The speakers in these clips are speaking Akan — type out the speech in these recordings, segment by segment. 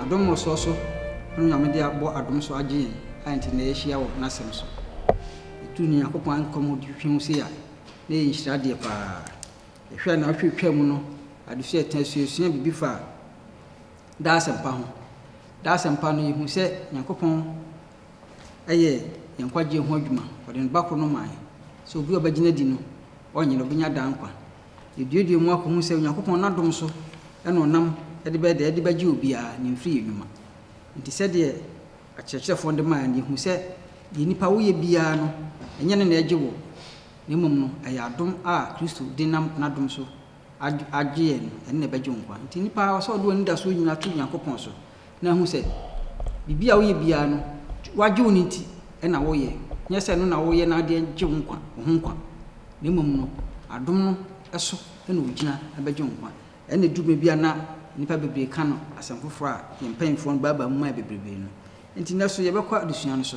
Adom mmɔsoɔ so ne Onyame de abɔ adom so agye yɛn a nti na yɛahyia wɔ N'asɛm so. Yɛtu Onyankopɔn Ankwa mu hwehwɛ ho sei a, na ɛyɛ nhyira adeɛ pa ara. Yɛhwɛ a nnawɔtwe retwaa mu no, adesua a yɛtena suasuaa biribi faa daa asɛmpa ho. Daa asɛmpa no, yɛhuu sɛ Nyankopɔn yɛ yɛn nkwagyeɛ ho adwuma. Ɔde Ne Ba koro no maa yɛn sɛ obi a ɔbɛgyina adi no, ɔrenyera, ɔbɛnya daa nkwa. Yɛduadua mu akɔhu sɛ Onyankopɔn n'adom so na ɔnam de bɛyɛ deɛ ɛde bɛgye obiara ne mfiri yɛ nnwuma. Nti sɛdeɛ akyerɛkyerɛfoɔ no de maeɛ no, yɛhu sɛ deɛ nnipa woyɛ biara no, ɛnyɛ ɛno na ɛgye wɔ, na mmom no ɛyɛ adom a Kristo de nam n'adom so agye yɛn no, ɛno na ɛbɛgye wo nkwa. Nti nnipa ɔsɛ ɔde w'anidasoɔ nyinaa to Onyankopɔn so. na hu sɛ biribi a woyɛ biara no, wɔagye wo no nti na woyɛ, nyɛ sɛ ɛno na woyɛ na ɛde gye wo nkwa, wo ho nkwa, na mmom no, adom no so na wugyina bɛgye wo nkwa. Ɛnna edu baabi a na nnipa bebree ka no asɛm foforo a yɛn mpanyimfo no baabaa mu mae bebrebe no. Enti nnɛ so yɛbɛkɔ adesua no so,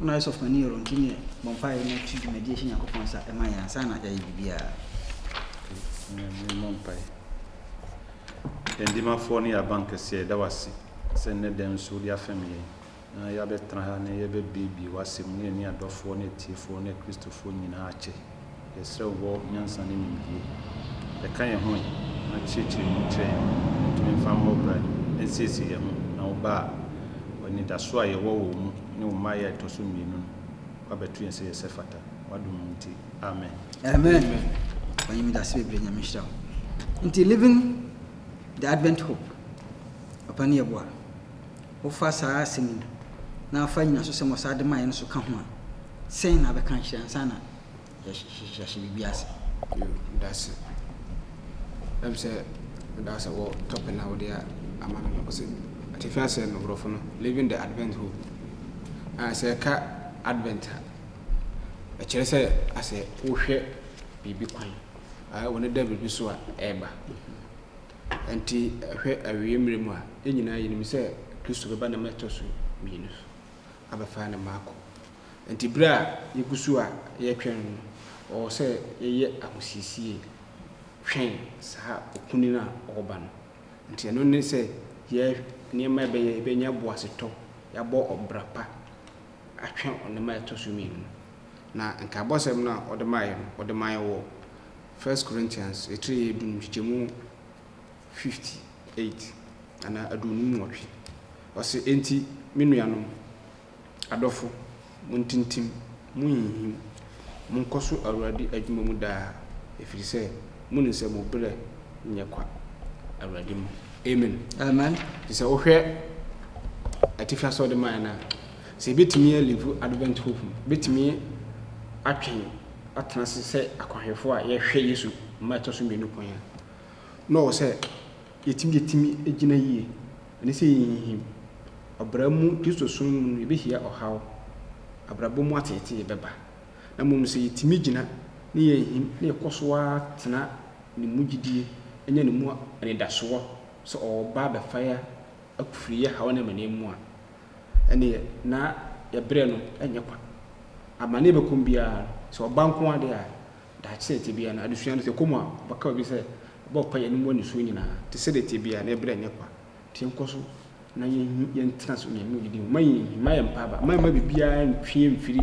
Ná Ɔsɔfopani Yoromm tumi bɔ mpae na ɔto dwumadi hyɛ Nyankopɔn nsa ma yɛn ansa na yɛayɛ biribiara. Nyame mmɔ mpae. Yɛn Dimafoɔ ne yɛn Abankɛseɛ, yɛda wo ase sɛ nnɛ da yi nso wode afɛm yɛn na yɛabɛtena ha na yɛbɛbuebue w'Asɛm mu ne yɛne yɛn adɔfoɔ ne atiefoɔ ne Akristofoɔ nyinaa akyɛ. Yɛsrɛ wo bɔ nyansa ne nimdie de ka yɛn ho ɛ, na kyerɛkyerɛ mu kyerɛ yɛn ma yɛntumi mfa mmɔ bra nsiesie yɛn ho na wo ba a wɔ anidasoɔ a yɛwɔ wɔ wo mu ne wo mmaeɛ a ɛtɔ so mmienu no wabɛto yɛn sɛ yɛ sɛ fata w'adom nti. Amen. Amen Ɔpanyin meda ase bebree Nyame nhyira wo nti living the advent hope Ɔpanyin yɛboa. Wofa saa asɛm yi, na fa nnyinasosɛm a ɔsan de maeɛ no so ka ho a, sɛn na wobɛka akyerɛ ansa na yɛahyɛ biribi ase? Yiw, meda ase. Ɛm sɛ meda ase wɔ tɔpe no a wode ama me no. Ɔse atifi asɛm no, borɔfo no, Living the Advent Hope. Ah, sɛ yɛka Advent a, ɛkyerɛ sɛ asɛ wohwɛ biribi kwan, ah, w'ani da biribi so a ɛreba. Enti hwɛ awiei mmere mu a, yɛn nyinaa yenim sɛ Kristo bɛba nam a ɛtɔ so mmienu so abɛfa ne mma akɔ. Enti bere a yegu so a yɛretwɛn no no, ɛwɔ sɛ yɛyɛ ahosiesie twɛn saa okunini no a ɔreba no. Enti ɛno ne sɛ yɛyɛ nneɛma a ɛbɛyɛ a yebenya boasetɔ, yɛabɔ ɔbra pa atwɛn ɔnam a ɛtɔ so mmienu no. Na nkaebɔsɛm no a ɔde mae no, ɔde mae wɔ. First Corinthians etire a edu no nkyekyɛmu fifty eight anaa aduonum nwɔtwe. Ɔse, Enti me nuanom, adɔfo, montintim, monhinhim, monkɔ so Awurade adwuma mu daa, efiri sɛ monim sɛ mo berɛ nyɛ kwa Awurade mu. Amen. Amen. Nti sɛ wohwɛ atifi ase a ɔde mae no a, sɛ yɛbɛtumi a live Advent hope no, yɛbɛtumi atwɛn. atena ase sɛ akwanhwɛfoɔ a yɛhwɛ Yesu mma ɛtɔ so mmienu kwan a, na ɔwɔ sɛ yɛtumi deɛ tumi gyina yie, ɛne sɛ yɛnhinhim. Ɔbra mu Kristosom mu no, yɛbɛhyia ɔhaw, abrabɔ mu ateetee bɛba. Na mmom sɛ yɛtumi gyina na yɛnhim na yɛkɔ so ara tena Ne mu gyidie, nya Ne mu anidasoɔ sɛ ɔba abɛfa yɛn afiri yɛn haw ne amaneɛ mu a, Ɛnneɛ, na yɛn berɛ no nyɛ kwa. Amane a ɛbɛkɔ mu biara no, sɛ ɔba nko ara deɛ a, daakye sɛdeɛ ɛteɛ biara no, adesua no, sɛ ɛkɔ mu a, wɔbɛka baabi sɛ, Bɔ mpaeɛ na mua nisuo nyinaa. Te sɛdeɛ ɛteɛ biara no, yɛn berɛ nyɛ kwa. Enti yɛnkɔ so na yɛntena ase wɔ Onyankopɔn gyidie mu. Mma yɛnhinhim. Mma yɛn mpaaba. Mma mma biribiara ntwe yɛn mfiri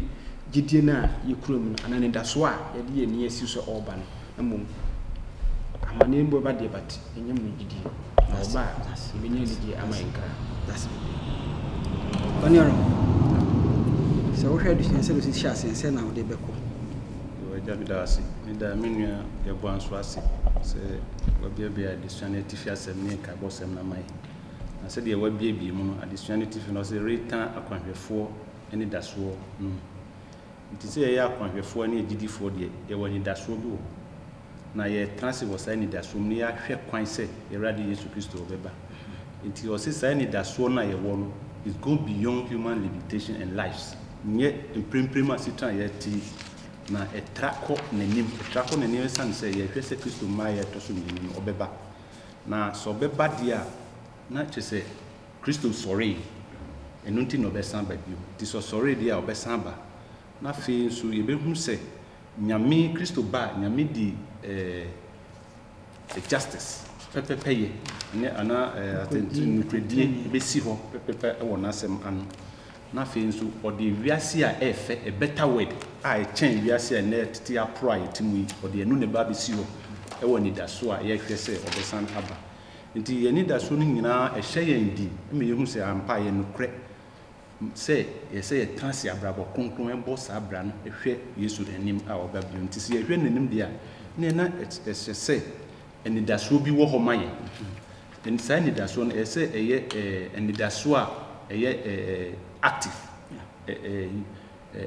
gyidie no a yɛkura mu no anaa anidasoɔ a yɛde yɛn ani asi so sɛ ɔreba no. Mmom, amanneɛ mpo bɛba deɛ, but ɛnyɛ mo gyidie, na wɔba a, yɛbɛnya anigyeɛ ama yɛn kra. That's it. Ɔne ɔrɔ. Sɛ wohwɛ adesua sɛ ɔsi hyɛ aseɛ sɛ na wode bɛkɔ. Yɛwɔ agya bi da ase. Me da me nua yɛboa nso ase sɛ wabiabia adesua no atifi asɛm ne nkaebɔ sɛm no ama yɛ. Na sɛdeɛ wabiabie mu no, adesua no atifi no ɔse retan akwanhwɛfoɔ anidasoɔ no mu. Enti sɛ yɛyɛ akwanhwɛfoɔ ne agyidifoɔ deɛ, yɛwɔ anidasoɔ bi wɔ hɔ. Na yɛretena ase wɔ saa anidasoɔ mu na yɛahwɛ kwan sɛ yɛn Awurade Yesu Kristo rebɛba. Enti ɔse saa anidasoɔ no a yɛwɔ no is go beyond human limitation and lives. Nyɛ mprempren asetena a yɛrete yi na ɛtra kɔ n'anim. Ɛtra kɔ n'anim ɛsiane sɛ yɛrehwɛ sɛ Kristo mmaeɛ a ɛtɔ so mmienu no ɔbɛba. Na sɛ ɔbɛba deɛ a, na kyerɛ sɛ, Kristo sɔree, ɛno nti na ɔbɛsan aba bio. Nti sɛ ɔsɔree deɛ a, ɔbɛsan aba. Na afei nso yɛbɛhunu sɛ Nyame, Kristo ba a, Nyame di eh, justice, pɛpɛpɛyɛ, ne anaa eh, atɛnti, nukuredie bɛsi hɔ pɛpɛpɛ wɔ n'asɛm ano. Na afei nso ɔde wiase a ɛɛfɛ, a better word, a ɛkyɛn wiase a ɛnɛ tete aporo a yɛte mu yi, ɔde ɛno na ɛba abɛsi hɔ wɔ anidaso a yɛhwɛ sɛ ɔbɛsan aba. Enti yɛn anidaso no nyinaa hyɛ yɛn den ma yehu sɛ ampa ɛyɛ nokorɛ sɛ ɛsɛ sɛ yɛtena ase abrabɔ kronkron bɔ saa bra no hwɛ Yesu anim a ɔreba bio no. Enti sɛ yɛhwɛ n'anim deɛ a, ɛnneɛ na ɛsɛ sɛ anidasoɔ bi wɔ hɔ ma yɛn. Saa anidasoɔ no, ɛsɛ sɛ ɛyɛ anidasoɔ a ɛyɛ active.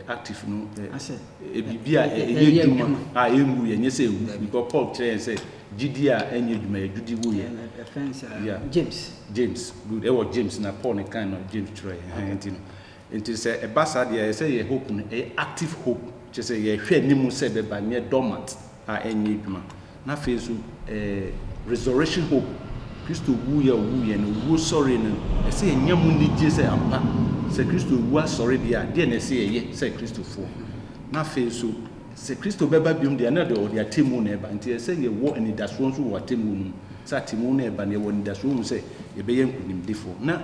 active no yɛ biribi a ɛyɛ adwuma a ɛnwu, ɛnyɛ sɛ ɛwu, because Paul kyerɛ yɛn sɛ gyidie a ɛnyɛ adwuma yɛ gyidi wo yɛ. James. James, good, ɛwɔ James na Paul ne kan no James twerɛ yɛn, nti no, nti sɛ ɛba saa deɛ ɛyɛ sɛ yɛ hope no ɛyɛ active hope, kyerɛ sɛ yɛhwɛ anim sɛ ɛbɛba, nyɛ dormant. a ɛnyɛ adwuma. Na afei nso ɛɛ resurrection hope, Kristo wuiɛ a ɔwuiɛ no, owuo sɔree no, ɛsɛ yɛnya mu anigyeɛ sɛ ampa sɛ Kristo awu asɔre deɛ a, deɛ na ɛsɛ yɛyɛ sɛ Kristofoɔ. Na afei nso sɛ Kristo bɛba biom deɛ a, na ɛde ɔde atemmuo na ɛba, nti ɛsɛ yɛwɔ anidasoɔ nso wɔ atemmuo no mu, sɛ atemmuo no reba no yɛwɔ anidasoɔ hu sɛ yɛbɛyɛ nkonimdifoɔ, na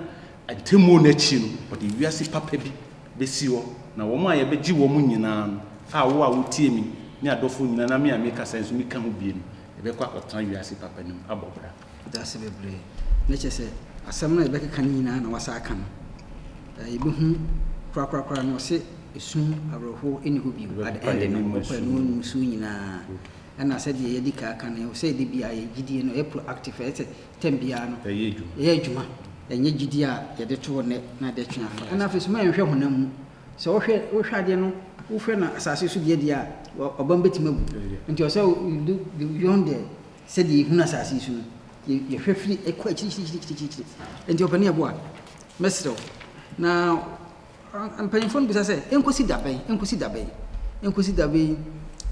atemmuo no akyi no ɔde wiase papa bi besi hɔ, na wɔn a yɛbɛgye wɔn nyinaa no, a wo a wutie me, ne adɔfo nyinaa, na me a mekasa yi nso meka ho bio no, yɛbɛkɔ akɔtena wiase papa no mu abɔ bra. Yɛda ase bebree. Na kyerɛ sɛ, asɛm no a yɛbɛkeka no nyinaa na wɔasan aka no. Ɛɛ, yebehu korakorakora no, ɔse, Esu awerɛhow nni hɔ bio, at the end no, wɔkɔ anim anim nsu nyinaa. Ɛna sɛdeɛ yɛadi kan aka no, ɛwɔ sɛ da biara yɛn gyidie no ɛyɛ proactive, ɛyɛ sɛ tɛm biara no yɛ adwuma, ɛnyɛ gyidie a yɛde to hɔ nnɛ na de twe afa. Ɛna afei nso ma yɛnhwɛ honam mu. Sɛ wohwɛ wohwɛ adeɛ no, wohwɛ no asase so deɛ deɛ a, ɔba no bɛtumi awu. Nti ɔsɛ you do beyond the sɛdeɛ yɛhunu asase yi so no, yɛhwɛ firi ɛkɔ akyirikyirikyirikyiri. Nti ɔpanin ɛboa, mɛsrɛ wo na Mpanyimfo no bisa sɛ, Enkosi da bɛn? Enkosi da bɛn? Enkosi da bɛn?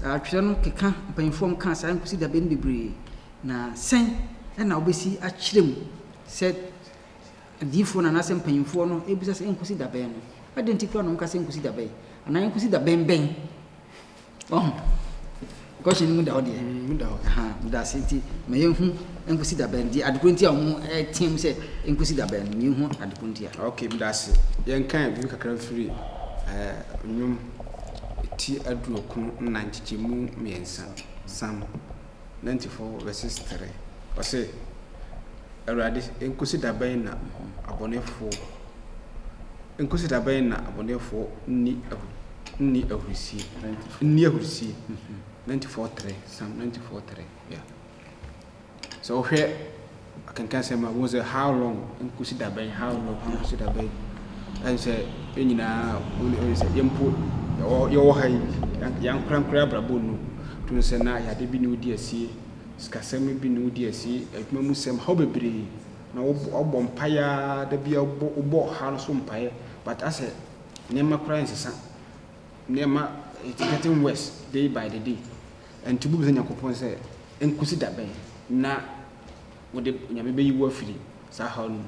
Atwerɛ no keka mpanyimfo a wɔkaa saa enkosi da bɛn no bebree, na sɛn na wobesi akyerɛ mu sɛ adiyifoɔ no anaasɛ mpanyimfoɔ no bisa sɛ enkosi da bɛn no? Adɛn nti koraa na wɔka sɛ enkosi da bɛn? Anaa enkosi da bɛn bɛn? Wahu? Question no mu da hɔ deɛ? Mm, mu da hɔ. Aha, meda ase nti, ma yɛnhu nkosi da bɛn deɛ adekoro nti a wɔteam sɛ nkosi da bɛn, ma yɛnhu adekoro nti a. Okay, meda ase. Yɛnkan biribi kakra mfiri eh, nnwom ti aduokron nnan nkyekyɛmu mmiɛnsa, Psalm. Nantifo verses three, ɔse, Awurade, enkosi da bɛn na abɔnefo, enkosi da bɛn na abɔnefo nni ahu, nni ahurusie, nni ahurusie, Nantifo three, Psalm Nantifo three, yeah. Sɛ wohwɛ Akenkan sɛm a, wohu sɛ how long nkosi da bɛn, how long Yeah. nkosi da bɛn. Ɛne sɛ yɛn nyinaa wone wone sɛ yɛn mpo yɛwɔ yɛwɔ ha yi yɛn- yɛn ankorankora abrabɔ nnu. To no sɛ na yade bi ne wodi asie, sikasɛm bi ne wodi asie, adwuma mu sɛm, haw bebree. Na wobɔ wobɔ mpaeɛ ara da bi a wobɔ wobɔ ɔhaw no so mpaeɛ but asɛ nneɛma koraa nsesa. Nneɛma it's getting worse day by the day. Enti wobisa Nyankopɔn sɛ, Enkosi da bɛn na wode Onyame beyi wo afiri saa haw no mu?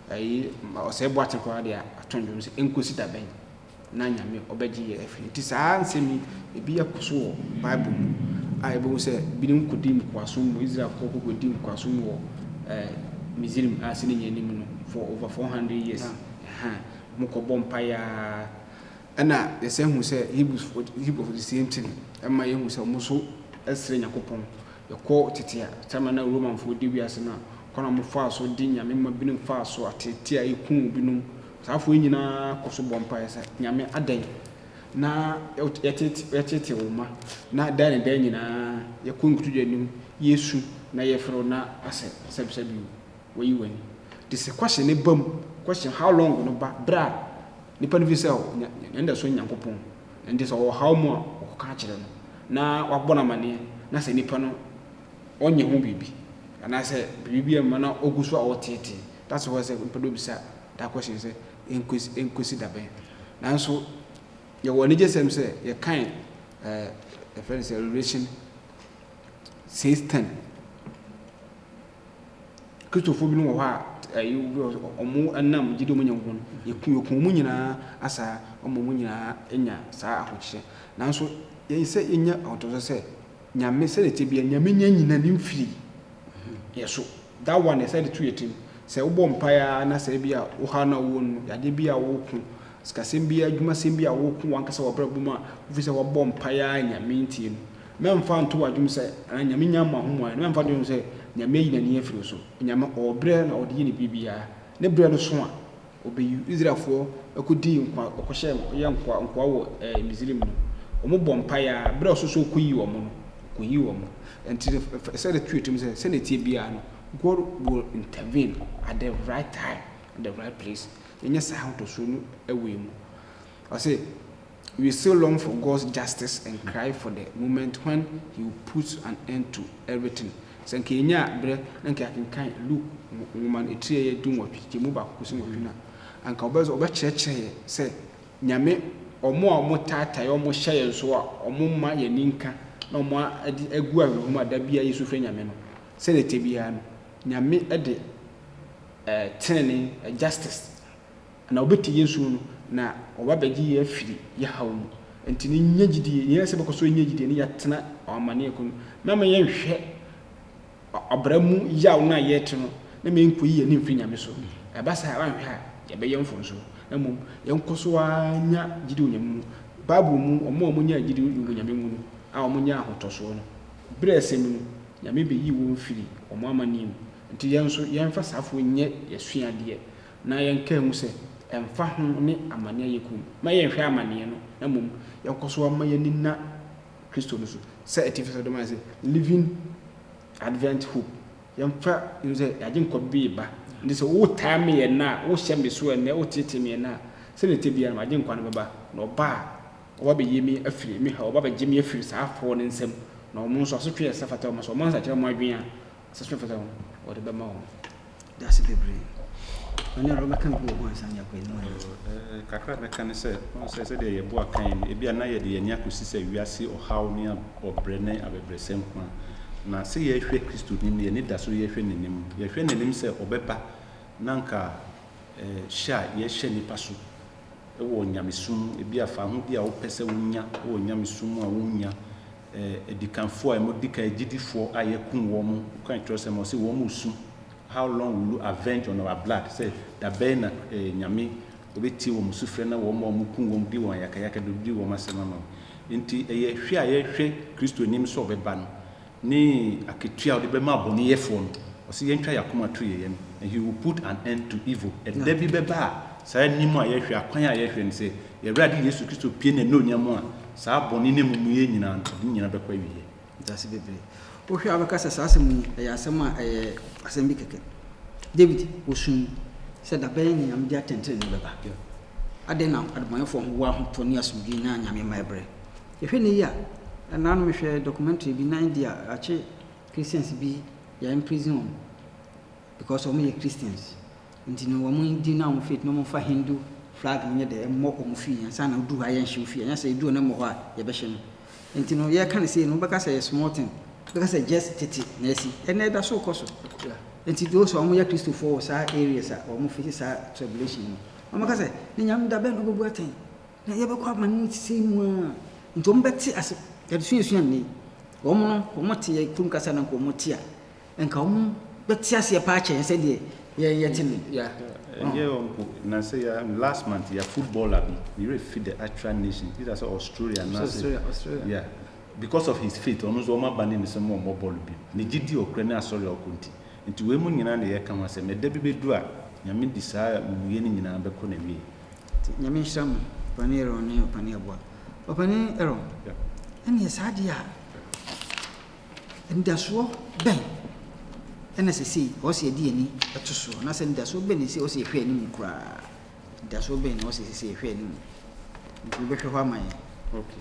Eyi ma ɔsɛe boa tse koraa de ato ndwom sɛ, Enkosi da bɛn na Nyame ɔbɛgye yɛn afiri? Enti saa nsɛm yi, ebi akɔ so wɔ Bible mu a yebohu sɛ binom kodii nkoasom mu. Israelfo kokodii nkoasom wɔ Misraim a sɛ ne nyɛe no mu no for over four hundred years. Wɔkɔbɔɔ mpae ara Ɛnna yɛsan hu sɛ Hebrifo Hebrifo de sie nti no, ɛma yehu sɛ wɔn nso srɛ Nyankopɔn. Yɛkɔ tete a, saa mmerɛ no a Romanfo redi wiase no a, kwan a wɔfaa so de nyame mma binom faa so ateetee a ekum binom. Saa afo yi nyinaa kɔ so bɔ mpaeɛ sɛ, Nyame adɛn na yɛteetee yɛteetee wo mma? Na daa ne daa nyinaa yɛkɔ nkotodwe anim, yɛresu na yɛrefrɛ wo na asɛ sɛbsɛbio, woayi w'ani. Te sɛ question no ba mu, question how long no ba berɛ a Nnipa no fi sɛ wɔn anidaso ne Nyankopɔn, enti sɛ wɔwɔ haw mu a, wɔkɔka kyerɛ no, na wabɔ no amanneɛ, na sɛ nipa no ɔnyɛ ho biribi, anaasɛ biribi bi amma na ogu so a ɔreteetee, that's why sɛ nipa no bɛbisa that question sɛ, Enkosi enkosi da bɛn? Nanso yɛwɔ anigyesɛm sɛ yɛkan eh, yɛfrɛ no sɛ Revelation six ten. Kristofo binom wɔ hɔ a, ɛyɛ obi wɔ hɔ a, wɔnam gyidi a wɔanya mu no, wɔku wɔn mu nyinaa asaa ama wɔn nyinaa nya saa ahokyerɛ. Nanso yɛn sɛ yɛnya ahotoso sɛ Nyame sɛdeɛ ɛteɛ biara, Nyame nya nyina ne mfiri yɛn so. That one ɛsɛ de to yɛn tirim. Sɛ wobɔ mpaeɛ ara na sɛ ebi a ɔhaw no a wowɔ no mu, yadeɛ bi a woko, sikasɛm bi, adwumasɛm bi a woko w'ankasa w'abrabɔ mu a, wofiri sɛ wabɔ mpaeɛ ara a Nyame ntie no, Mɛmfa nto w'adwenem sɛ, anaa Nyame nnya mma ho mmuaeɛ no, mɛmfa nto w'adwenem sɛ Nyame ayi n'ani afiri wo so. Nyame ɔwɔ berɛ na ɔde yɛ ne biribiara. Ne berɛ no so a, ɔbɛyi wo. Israelfoɔ kɔdii nkoa, wɔkɔhyɛɛ, wɔyɛɛ nkoa, nkoa wɔ ɛɛ Misraim no, wɔbɔɔ mpaeɛ ara, berɛ a ɔsoro sɛ ɔkɔyi wɔn no, ɔkɔyii wɔn. Ɛnti no, fa fa sɛ de to wo tirim sɛ, sɛdeɛ ɛteɛ biara no, God will intervene at the right time, at the right place. Yɛnyɛ saa ahotɔsoɔ no wei mu. Ɔse, We still long for God's justice and cry for the moment when he will put an end to everything. Sɛ nka yɛnyaa berɛ na nka yɛakenkan Luke nwoma no etiri ɛyɛ dunwɔtwe kyekyɛ mu baako kɔsi nwɔtwe no a, anka ɔbɛsɛ ɔbɛkyerɛkyerɛ yɛ sɛ Nyame wɔn a wɔn taatae yɛ, wɔn hyɛ yɛn so a, wɔn mma yɛn ani nka na wɔn adi agu awerɛho mu a da biara yɛsu frɛ Nyame no. Sɛdeɛ ɛteɛ biara no, Nyame de ɛɛ tenenee, justice, Na wɔbɛte yɛn su no, na wɔba abɛgye yɛn afiri yɛn haw mu. Enti no, nya gyidie. Nea ɛsɛ sɛ yɛbɛkɔ so anya gyidie ne yɛatena ɔamanneɛ ko no. Mɛma yɛnhwɛ ɔbra mu yaw no a yɛrete no, na ma yɛnkɔyi yɛn ani mfiri Nyame so. Ɛba saa a, woanhwɛ a, yɛbɛyɛ mfomso. Na mmom, yɛnkɔ so ara nya gyidie wɔ Nyame mu. Bible mu, wɔn a wɔnyaa gyidie wɔ Nyame mu no, a wɔnyaa ahotɔsoɔ no, berɛ a ɛsɛ mu no, Nyame bɛyii wɔn firii wɔn amanneɛ mu. Enti yɛn nso, yɛmfa saa fo nyɛ yɛn asuadeɛ, na yɛnkaa mu sɛ, Ɛmfa ho ne amane a yɛkɔ mu, mma yɛnhwɛ amaneɛ no, na mmom yɛnkɔ so mma yɛn ani nna Kristo no so, sɛ atifi sɛ wɔde mae sɛ, Living Advent Hope, yɛmfa nhu sɛ yɛn Agyenkwa bi reba, enti sɛ wotaa me ɛnnɛ a, wohyɛ me so ɛnnɛ, woteetee me ɛnnɛ a, sɛdeɛ ɛte biara no m'Agyenkwa no bɛba, na ɔba a, ɔba bɛyi me afiri me haw, ɔba bɛgye me afiri saa afoɔ no nsam, na ɔno nso asotwe a ɛsɛ fata wɔn, sɛ wɔansakyera wɔn adwene a, Session fata ho wɔde bɛma wo. Dase bebree. Ɔne ara wobɛka bi wɔ ho ansa na yɛakɔ anim anaa? Ɛɛ, kakra a mɛka ne sɛ, wohu sɛ sɛdeɛ yɛboa kan yi no, ebi a na yɛde yɛn ani akɔsi sɛ wiase ɔhaw ne ɔbrɛ ne abɛbrɛsɛ nko ara. Na sɛ yɛrehwɛ Kristoni no, yɛn ani da so yɛrehwɛ n'anim. Yɛhwɛ n'anim sɛ ɔbɛba na anka ɛɛ hyɛ a yɛhyɛ nnipa so wɔ nyamesom mu, ebi a faho bi a wopɛ sɛ wonya wɔ nyamesom mu a wonnya, adikanfoɔ a emu di kan agyidifoɔ a yɛakum wɔn no kan twerɛsɛm hɔ sɛ wɔn su How long will you avenge on our blood? sɛ da bɛn na eh, Nyame ɔbɛtie wɔn sufrɛ na wɔn a wɔkum wɔn di wɔn ayakayaka de di wɔn asɛm ama wɔn. Enti ɛyɛ hwɛ a yɛhwɛ Kristo anim sɛ ɔbɛba no ne akatua a ɔde bɛma abɔneyɛfoɔ no. Ɔse yɛntwa yɛakoma to yɛyɛ no and he will put an end to evil. Ɛda bi bɛba a saa anim a yɛhwɛ, akwan a yɛhwɛ no sɛ Yɛn Awurade Yesu Kristo pue n'anuonyam a, saa bɔne ne amumuyɛ nyinaa no, ɔde ne nyinaa bɛkɔ awieɛ. Ntease bebree. Wohwɛ a wobɛka sɛ saa asɛm yi ɛyɛ asɛm a ɛyɛ asɛm bi kɛkɛ. David, ɔsuui sɛ da bɛn na Nyame de atɛntenenee bɛba? Adɛn na adebɔneyɛfoɔ ho wɔ ahotɔ ne asomdwie na Nyame mma ɛbrɛ? Yɛhwɛ nnɛ yi a, ɛnna ano mehwɛɛ documentary bi na India akye Christians bi, they are imprisoning wɔn because wɔyɛ Christians. Ntsi no hɔn dzin na hɔn faith no wɔmfa Hindu flag no nyɛ dɛ mbɔ wɔn fie ansa na odur hɔ a yɛnnhyew fie anaa sɛ edur hɔ na mbɔ hɔ a yɛbɛhyɛ no. Ntsi no yɛreka no sei no wobɛka sɛ ɛyɛ small thing, wobɛka sɛ just tsetse na esi, ɛnɛ ɛda so kɔ so. Ntsi those a wɔyɛ Christofoɔ wɔ saa areas a wɔn face saa tribulation no wɔbɛka sɛ ne Nyame da bɛn na obobu atsɛn na yɛbɛkɔ aman mu tsetsee mu a, ntsi wɔbɛtse ase. Yɛdze suasua ndɛ yi, wɔn no wɔtse yɛ kurom kasa na nka wɔtse a, Nka ɔmo bɛte aseɛ paa kyɛn sɛdeɛ yɛn yɛte no. Yeah. Ɛnyɛ hɔ mpo, na sɛ yɛ last month yɛ footballer bi, me werɛ fi the actual nation, either sɛ Australia anaasɛ, Australia, Australia. yeah, because of his faith, ɔno nso wɔn aba ne no sɛ mo mmɔ bɔɔlo bio, ne gyedie ɔkura ne asɔre a ɔkɔ nti, nti wei mu nyinaa na yɛka ho asɛm, ɛda bi bɛduru a Nyame de saa amumuyɛ no nyinaa bɛkɔ n'awieɛ. Nti Nyame nhyira mo Ɔpanin Aaron ne Ɔpanin Aboa. Ɔpanin Aaron, Yeah. ɛneɛ saa deɛ a. Anidasoɔ bɛn na seesei ɛwɔ sɛ yɛde yɛn ani to soɔ, anaasɛ anidasoɔ bɛn na ɛsɛ sɛ ɛwɔ sɛ yɛhwɛ anim koraa? Anidasoɔ bɛn na ɛwɔ sɛ ɛsɛ sɛ yɛhwɛ anim? Nti wobɛhwɛ hɔ ama yɛn. Ok.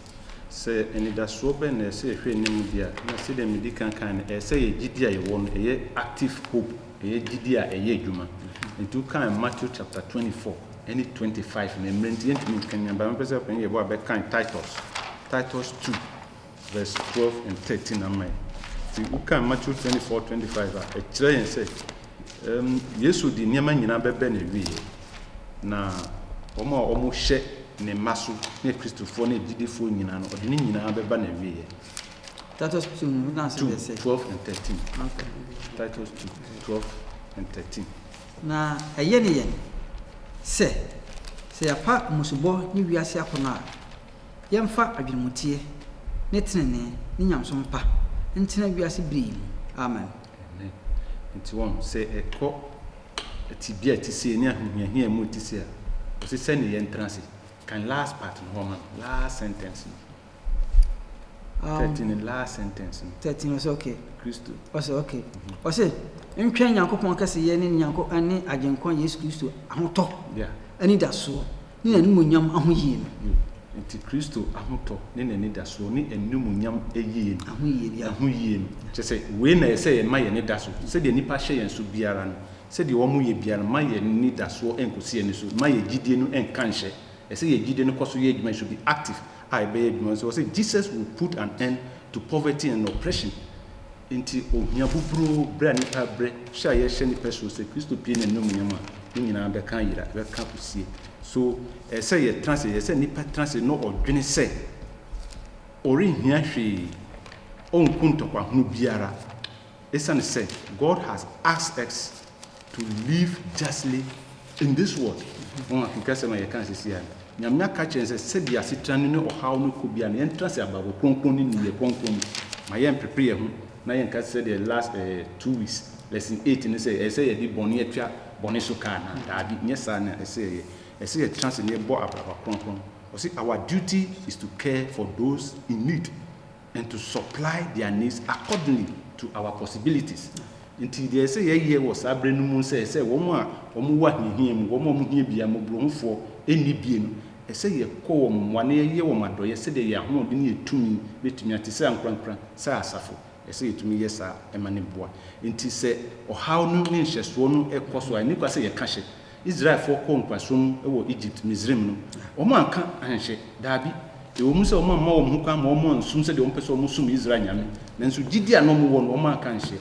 Sɛ anidasoɔ bɛn na ɛsɛ sɛ yɛhwɛ anim deɛ a, na sɛdeɛ medi kan kaeɛ no, ɛyɛ sɛ yɛn gyidie a yɛwɔ no, ɛyɛ active hope, ɛyɛ gyidie a ɛyɛ adwuma. Nti wokae Matthew chapter twenty four ne twenty five no, mmerɛ nti yɛntumi nkanyan, but mɛpɛ sɛ yɛbɔ a bɛkan Titus, Titus two. Verse twelve and thirteen ama yɛn. Ti wokan Matthew twenty four twenty five a, ɛkyerɛ yɛn sɛ ɛm Yesu de nneɛma nyinaa bɛbɛ ne wieɛ. Na wɔn a wɔhyɛ ne mma so ne Kristofoɔ ne agyidifoɔ nyinaa no, ɔde ne nyinaa bɛba na wieɛ. Titus two no wokan sɛ Two deɛ sɛ. twelve and thirteen. Okay. Titus two twelve and thirteen. Na ɛyɛ ne yɛn sɛ, sɛ yɛapa mmusubɔ ne wiase akɔnnɔ a, Yɛmfa adwenemuteɛ ne tenenee ne nyamesom pa ntena wiase bere yi mu. Amen. Amen. Nti wɔn, sɛ ɛkɔ tebea a ɛte sei ne ahohiahia a ɛmu ɛte sei a, ɔse sɛnea yɛntena ase. Kan last part no hɔ ma no, last sentence no. Um, Thirteen ne last sentence no. Thirteen ɔse okay. Kristo. Ɔse okay. Mm-hmm. Ɔse ntwɛn Nyankopɔn kɛseyɛ ne Nyankopɔn ne Agyenkwa Yesu Kristo ahotɔ. Yeah. Anidasoɔ. Ne n'animuonyam ahoyie no. Nti Kristo ahotɔ ne n'anidasoɔ ne animuonyam ayie no. Ahoyie no. Ahoyie no. Kyerɛ sɛ, wei na ɛyɛ sɛ yɛma yɛn ani da so. Sɛdeɛ nnipa hyɛ yɛn so biara no, sɛdeɛ wɔyɛ biara no, ma yɛn anidasoɔ nkɔsi ani so. Ma yɛn gyidie no nka nhyɛ. Ɛsɛ sɛ yɛn gyidie no kɔ so yɛ adwuma, it should be active a ɛbɛyɛ adwuma. Nti wɔse, Jesus will put an end to poverty and oppression. Enti ohia buburoo bere a nnipa bere hyɛ a yɛhyɛ nnipa suro sɛ Kristo pue n'anuomunyam a, ne nyinaa bɛka ayera, ɛbɛka akosie. So ɛyɛ sɛ yɛtena ase? Ɛyɛ sɛ nnipa tena ase na ɔdwene sɛ ɔrenhia hwee, ɔnku ntɔkwahunu biara, esiane sɛ God has asked us to live justly in this world Wɔn a kenka asɛm a yɛkaa sisi a no, Nyame aka akyerɛ yɛn sɛ sɛdeɛ asetra no ne ɔhaw no kɔ biara no yɛntra ase abrabɔ kronkron ne nneyɛɛ kronkron mu ma yɛmpepe yɛn ho na yɛnka sɛdeɛ last eh two weeks lesson eight no sɛ ɛsɛ yɛde bɔne atua bɔne so ka anaa? Daabi, nyɛ saa na ɛsɛ yɛyɛ. Ɛsɛ yɛtra ase na yɛbɔ abraba kronkron. Ɔse our duty is to care for those in need. and to supply their needs accordingly to our possibilities. Nti deɛ ɛsɛ yɛyɛ wɔ saa berɛ no mu nsɛ sɛ wɔn a wɔn wɔ ahiahia mu, wɔn a wɔn hia bia mmɔborɔhufoɔ nni bie no, ɛsɛ yɛkɔ wɔn mmoa na yɛyɛ wɔn adɔeɛ sɛdeɛ yɛn ahoɔden ne yɛn tumi bɛtumi a, te sɛ ankorankora sɛ asafo, ɛsɛ yɛtumi yɛ saa ma no boa. Nti sɛ ɔhaw no ne nhyɛsoɔ no rekɔ so a, ɛnni kwa sɛ yɛka hyɛ. Israelfoɔ kɔɔ nkoasom mu wɔ Egypt, Misraim, no, wɔanka anhyɛ? Dabi. Ɛwɔ mu sɛ wɔamma wɔn ho kwan ma wɔansom sɛdeɛ wɔpɛ sɛ wɔsom Israel Nyame, nanso gyidie a na wɔwɔ no, wɔanka anhyɛ.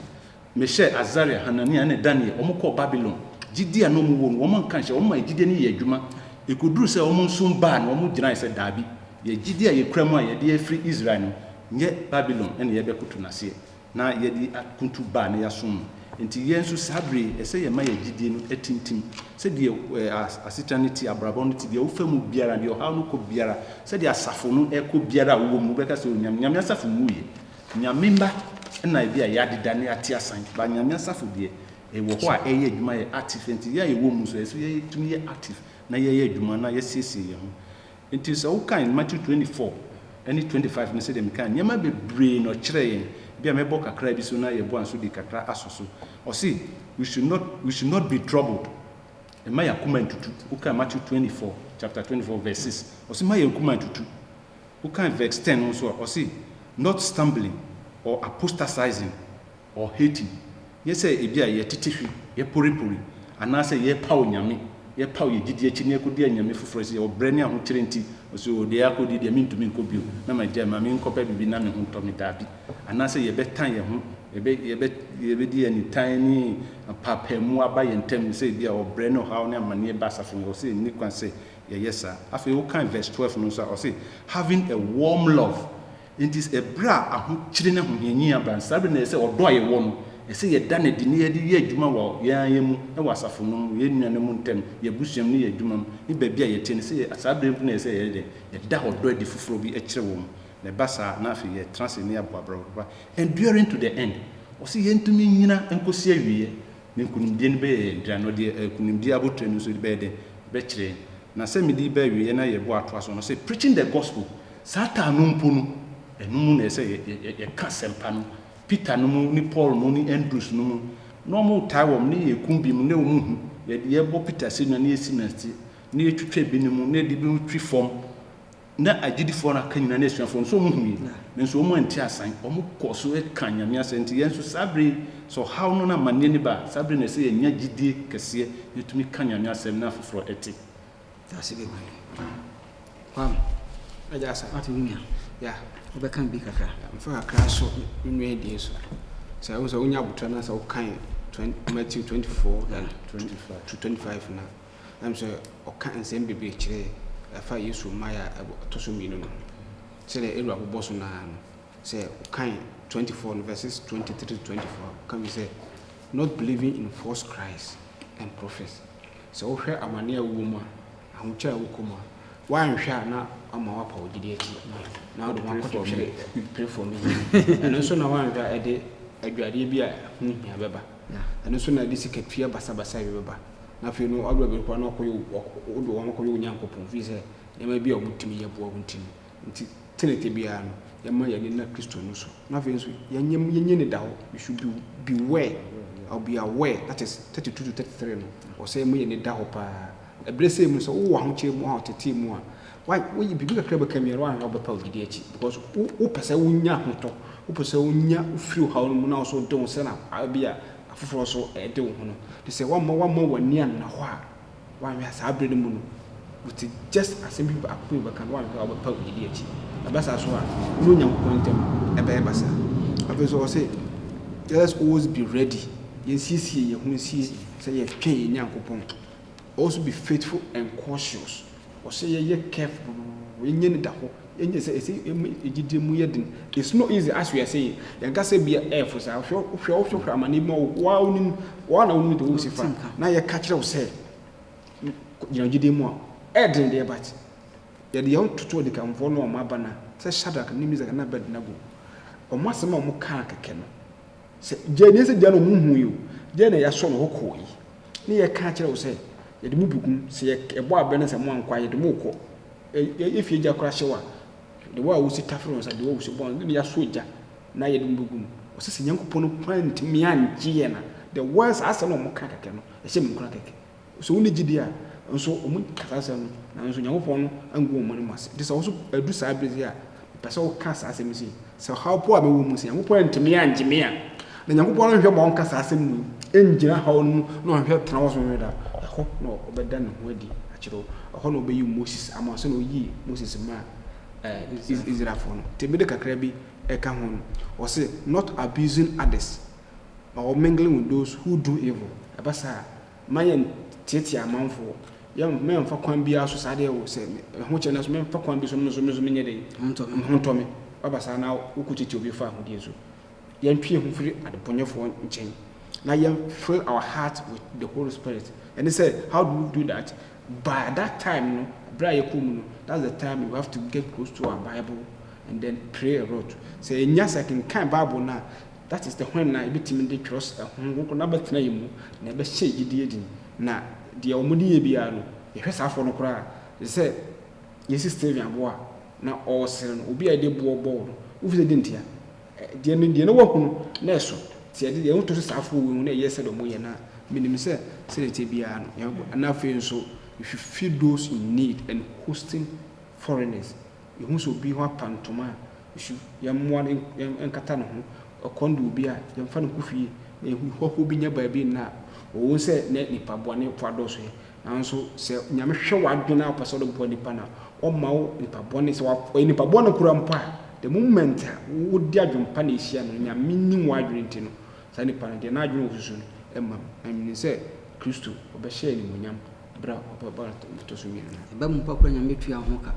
Mehyɛɛ Asaria, Hanania, ɛne Daniel, wɔkɔɔ Babilon. Gyidie a na wɔwɔ no, wɔanka anhyɛ. Wɔmaa gyidie no yɛɛ adwuma. Ɛkɔduruu sɛ wɔnsom Baal no, wɔgyinaeɛ sɛ, Dabi. Yɛn gyidie a yɛkura mu a yɛde afiri Israel no, nyɛ Babilon na yɛrebɛkoto no aseɛ. Na yɛde akuntu baa na yɛasom no. Enti yɛn nso saa bere yi, ɛsɛ yɛma yɛn gyidie no atintim. Sɛdeɛ asetena no te, abrabɔ no te, deɛ wofa mu biara, deɛ ɔhaw no kɔ biara, sɛdeɛ asafo no rekɔ biara a wowɔ mu, wobɛka sɛ, O Nyame, Nyame asafo nwuiɛ. Nyame mma na ebia yɛadeda na yɛate asan, but Nyame asafo deɛ, ɛwɔ hɔ a ɛreyɛ adwuma yɛ active. Enti yɛn a yɛwɔ mu nso, ɛsɛ sɛ yɛtumi yɛ active na yɛyɛ adwuma na yɛasiesie yɛn ho. Enti sɛ wokan Matthew twenty four ne twenty five no sɛdeɛ mekaa, nneɛma bebree na ɔkyerɛɛ yɛn, bi a mɛbɔ kakra bi so na yɛboa nso de kakra asɔ so. Ɔse we should not we should not be troubled, mma yɛn akoma ntutu. Wokan Matthew twenty four chapter twenty four verse six, ɔse mma yɛn akoma ntutu. Wokan verse ten no nso a, ɔse not stumbling or apostatising, Wɔ Haiti, nyɛ sɛ ebia yɛtete hwe, yɛporepore, anaasɛ yɛpaw nyame, yɛpaw yɛn gyidi akyi na yɛkodi anyame foforo akyi, yɛwɔ brɛ ne ahokyere nti. So deɛ yɛakɔ die deɛ mentumi nkɔ bio, na magyae, ma menkɔpɛ biribi na me ho ntɔ me? Dabi. Anaasɛ yɛbɛtan yɛn ho, yɛbɛ, yɛbɛ, yɛbɛde yɛn nitan ne mpaapaemu aba yɛn ntam, sɛ ebia ɔbrɛ ne ɔhaw ne amanneɛ ba asafo mu. Ɔse nni kwan sɛ yɛyɛ saa. Afei wokan verse twelve no nso a, ɔse, Having a warm love, Enti bere a ahokyere ne ahohiahia aba no, saa bere no na ɛsɛ sɛ ɔdɔ a yɛwɔ no, ɛsɛ sɛ yɛda no adi na yɛde yɛ adwuma wɔ yɛn ara yɛn mu, wɔ asafo no mu, yɛn nuanom ntam, yɛn abusua mu, ne yɛn adwumam, ne baabi a yɛte no. Ɛsɛ sɛ saa bere no mpo na ɛsɛ sɛ yɛyɛ dɛn? Yɛda ɔdɔ adi foforo bi kyerɛ wɔn. Na ɛba saa a, na afei yɛtena ase na yɛabɔ abrabɔ papa. Enduring to the end. Ɔse yɛntumi nnyina nkosi awieɛ. Ne nkonimdie no bɛyɛ yɛn dea, na ɔde nkonimdie abotire no nso bɛyɛ dɛn? Ɔbɛkyerɛ yɛn. Na sɛ mede yi ba awieɛ na yɛbɔ atoa so no, ɔse, Preaching the Gospel. Saa taa no mpo no, ɛno mu na ɛsɛ sɛ yɛka asɛmpa no. Peter nom ne Paul nom ne Andrews nom, na wɔtaa wɔn, na yɛkum binom, na wɔn hu, yɛde yɛbɔ Peter asennua, na yɛsi no ase, na yɛtwitwa ebinom, na yɛde ebinom twi fam, na agyidifoɔ no aka nyinaa, ne asuafoɔ no, so wɔn hui, nanso wɔn anti asan, wɔn kɔɔ so ka Nyame asɛm, nti yɛn nso saa bere yi, sɛ ɔhaw no ne amanneɛ no ba a, saa bere no na ɛsɛ sɛ yɛnya gyidie kɛseɛ, na yɛtumi ka Nyame asɛm, na afoforɔ te. Dase bebree ah Kwame. Agya Asa. Ate wo nua. Ya. Wobɛka bi kakra. Mfa kakra so nnua abien so. Sɛ wo sɛ wonya abotra na sɛ wokan Matthew 24 na 25 to 25 na ɛm sɛ ɔka nsɛm bebree kyerɛ ɛfa Yesu mmaeɛ a ɛtɔ so mmienu no sɛdeɛ ɛwura bobɔ so naa no sɛ wokan 24 no verses 23 to 24 woka bi sɛ not believing in false Christ and prophets Sɛ wohwɛ amane a wowɔ mu a, ahokyere a ɛwɔ komm a, woanhwɛ a na ama woapa wo gyidi akyi na wode wo ho akɔtotwere pere fam yi. Ɛno nso na woanhwɛ a ɛde aduradeɛ bi a ɛho hia bɛba. Ɛno nso na ɛde sikatua basabasa bi bɛba. Na afei no, waduru baabi no koraa na wode wo ho akɔyɛ Onyankopɔn, ɛfiri sɛ nneɛma bi a wɔtumi yɛ boa wo ntini. Ntsi tsenetse biara no, yɛmma yɛn ani nna Kristo no so, na afei so yɛnyɛ yɛnyɛ enyidado, we should be beware, or be aware, that is thirty two to thirty three no, ɔwɔ sɛ yɛma yɛn ani da hɔ paa. Abrɛsɛ yi mu no, sɛ wowɔ ahokyɛr mu, ahotsetsee mu a, wa woye biribi kakra a bɛka biara woannhwɛ a wobɛpa wo gyidi ekyir, because wo wopɛ sɛ wonya ahotɔ, wopɛ sɛ wonya wofir ɔhaw no mu na wo so wode wo ho sɛ na a bi a afofor so dze wo ho no, ntsi sɛ wɔamma wɔamma w'ani anna hɔ a, W'anhwɛ a saa bere no mu no wo te just asɛm bi baako pɛ bɛka no w'anhwɛ a wo bɛpaw adi akyi. Ɛba saa so a wo ne Onyankopɔn ntam ɛbɛyɛ basaa. Afei nso ɔse let us always be ready, yɛn siesie yɛn ho nsie sɛ yɛtwɛn yɛn Nyankopɔn. Also be faithful and cautious. Ɔsɛ yɛ yɛ careful yɛ nyɛ no da hɔ yɛ nyɛ sɛ ɛsɛ yɛ ma yɛ gyidie mu yɛ den it's no easy as we are saying yɛn kasa ebia ɛɛfo saa hwɛ wo hwɛ wo hwɛ hwɛ amaneɛ bi ma wo wo ara wo nim wo ara na wo nim deɛ wo si fa na yɛ ka kyerɛ wo sɛ gyina gyidie mu a ɛɛden deɛ but yɛde yɛn ho toto ɔdikanfoɔ no a wɔn aba no a sɛ Shadrach ne Meshach ne Abednego wɔn asɛm a wɔn kaa kɛkɛ no. Sɛ gya nie sɛ gya no ɔmo hu yi o gya na yɛasɔ no hɔ kɔɔ yi ne yɛka akyerɛ wo sɛ yɛde mo bɛku sɛ yɛbɔ abɛ no sɛ mo ankɔ a yɛde mo rekɔ yɛfie gya koraa hyɛ wo a de wo a wosi tafere wɔn nsa de wo a wosi bɔn ne yɛasɔ gya na yɛde mo bɛgu mu ɔsɛ sɛ Nyankopɔn no kwan ntumi angye yɛn a the words asɛm a ɔmo ka kɛkɛ no ɛhyɛ me nkura kɛkɛ Sɛ wonni gyidi a nso, wɔka saa asɛm no, nanso Onyankopɔn angu wɔn anim ase. Enti sɛ wo nso adu saa bere yi a, mepɛ sɛ woka saa asɛm yi se, Sɛ ɔhaw po a mewɔ mu, sɛ Nyankopɔn antumi angye me a, na Nyankopɔn nhwɛ ma ɔnka saa asɛm yi ngyina haw no mu na ɔnhwɛ tena hɔ sɛ daa. Ɛhɔ na ɔbɛda ne ho adi akyerɛ wo. Ɛhɔ na ɔbɛyi Moses ama wo sɛnea oyii Moses maa Israelfo no. Enti mede kakra bi reka ho no, ɔse, Not abusing others. ma wɔ mingling with those who do evil, ɛba saa a, mma yɛn teatia amanfoɔ, yɛn mɛ nfa kwan biara so saa deɛ wo sɛ me ho kyɛ nanso mɛ nfa kwan bi so me nso me nso me nyɛ dɛn, me ho ntɔ me, waba saa na wo ko tiatia obi fa ahodie so, yɛn twe yɛn ho firi adebɔnyɛfoɔ nkyɛn na yɛn fill our heart with the holy spirit, ɛne sɛ how do we do that, by that time no berɛ a yɛkɔ mu no that's the time we have to get close to our bible and then pray a lot, sɛ yɛnya sɛ kenkan bible no a, That is, dehwan na yɛbɛtumi de twerɛs Honhom Kronkron no abɛtena yɛn mu na yɛbɛhyɛ yɛn gyidie den? Na deɛ wɔde yɛ biara no, yɛhwɛ saa afoɔ no koraa a, te sɛ yɛsi Stephen aboɔ a, na ɔresere no, obi a yɛde boɔ bɔɔ no, wofi sɛ deɛ ntia? Deɛ no, deɛ na wahu no, na ɛso. Nti yɛde yɛn ho to so saa afoɔ wei ho na yɛyɛ sɛdeɛ wɔyɛ no a, menim sɛ sɛdeɛ ɛteɛ biara no, yɛbɛboa. Ɛna afei nso, we should feed those in need and hosting foreigners. Yɛhu sɛ obi ho apa ntoma a, su, yɛmmoa no nkata ne ho, ɔkɔm de obi a, yɛmfa no nkɔ fie, na yɛhu hɔhoɔ bi nyɛ baabi nna no. Ɔwom sɛ nnɛ nnipa bɔnefoɔ adɔɔso yi, nanso sɛ Nyame hwɛ w'adwene a ɔpɛ sɛ ɔde boa nnipa no a, ɔmma wo nipa bɔne, sɛ ɔyɛ nipa bɔne koraa mpo a, the moment a wode adwene pa na ɛhyia no, Nyame nim w'adwene nti no, saa nipa no, deɛ n'adwene ɔsusu no, ɛmma no nwene sɛ Kristo, ɔbɛhyɛ animuonyam. Bere a ɔbɔ bɔɔl a ɛtɔ so mmienu no. Ɛba mu mpo a koraa Nyame tua wo ho ka.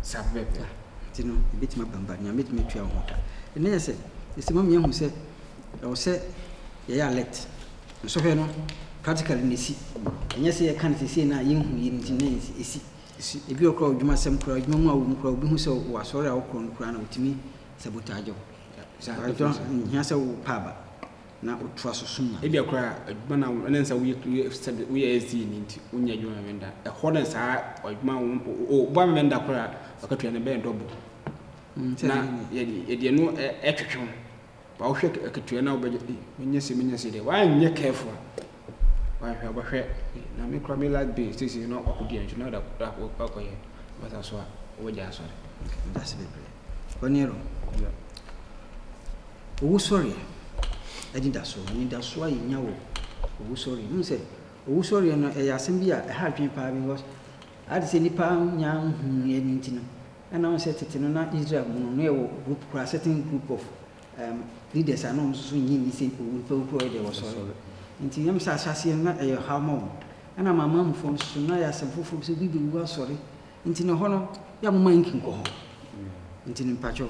Saa bere no. Nti no, ɛbɛtumi aba mu ba, Nyame bɛtumi atua wo ho ka. Ɛnnɛ yɛ sɛ, ɛsɛ ma yɛhu sɛ ɛwɔ sɛ yɛyɛ alert. Nsɔhwɛ no, practically na ɛsi. Ɛnyɛ sɛ yɛka no seesei na yɛnhu yie no nti na ɛsi. Ebi wɔ hɔ koraa a, odwumasɛm koraa, adwuma mu a wɔ mu koraa, obi hu sɛ wɔ asɔre a wokɔ no koraa no, otumi sabotage wo. Ɛnhia sɛ wopɛ aba. na ɔtoa so som Nyame. Ebia koraa adwuma no a ɛnam sɛ woyɛ sɛdeɛ woyɛ SDA no nti, wonyɛ adwuma mmɛn da. Ɛhɔ na saa adwuma a woba mmɛn da koraa a, akatua no ɛbɛyɛ double. Na yɛde ɛno retwetwe wo. But wohwɛ akatua no a wobɛgye, ei, menyɛ sei, menyɛ sei deɛ, woanyɛ careful a, Wahwɛ abɔhwɛ na me koraa me life base sisi na ɔkɔ di ɛnso na ɔda ɔkɔ yɛ basa so a ɔwɔ gya asɔre ɛda se bebree ɔne ɛrɔ yɛ ɔwɔ sɔre ɛdi da so ɛni da so a yɛ nya wɔ ɔwɔ sɔre ɛmu sɛ ɔwɔ sɔre ɛno ɛyɛ asɛm bi a ɛha adwene paa bi because adi sɛ nipa nya nhun yɛ ne ntino ɛna wɔn sɛ tete no na Israel mu no no yɛ wɔ group koraa certain group of Erm leaders a na wɔn nso nnye nni sɛ nnipa wu, nnipa wu korɔ deɛ wɔsɔre. Nti ɛyɛ me sɛ ahyɛaseɛ no na ɛyɛ ɔhaw ma wɔn. Ɛna amanamanmufoɔ no nso na ɛyɛ asɛm foforɔ bi sɛ obi bɛwu asɔre nti na ɛhɔ no yɛ a momma yɛnki nkɔ hɔ. Nti no mpakyɛw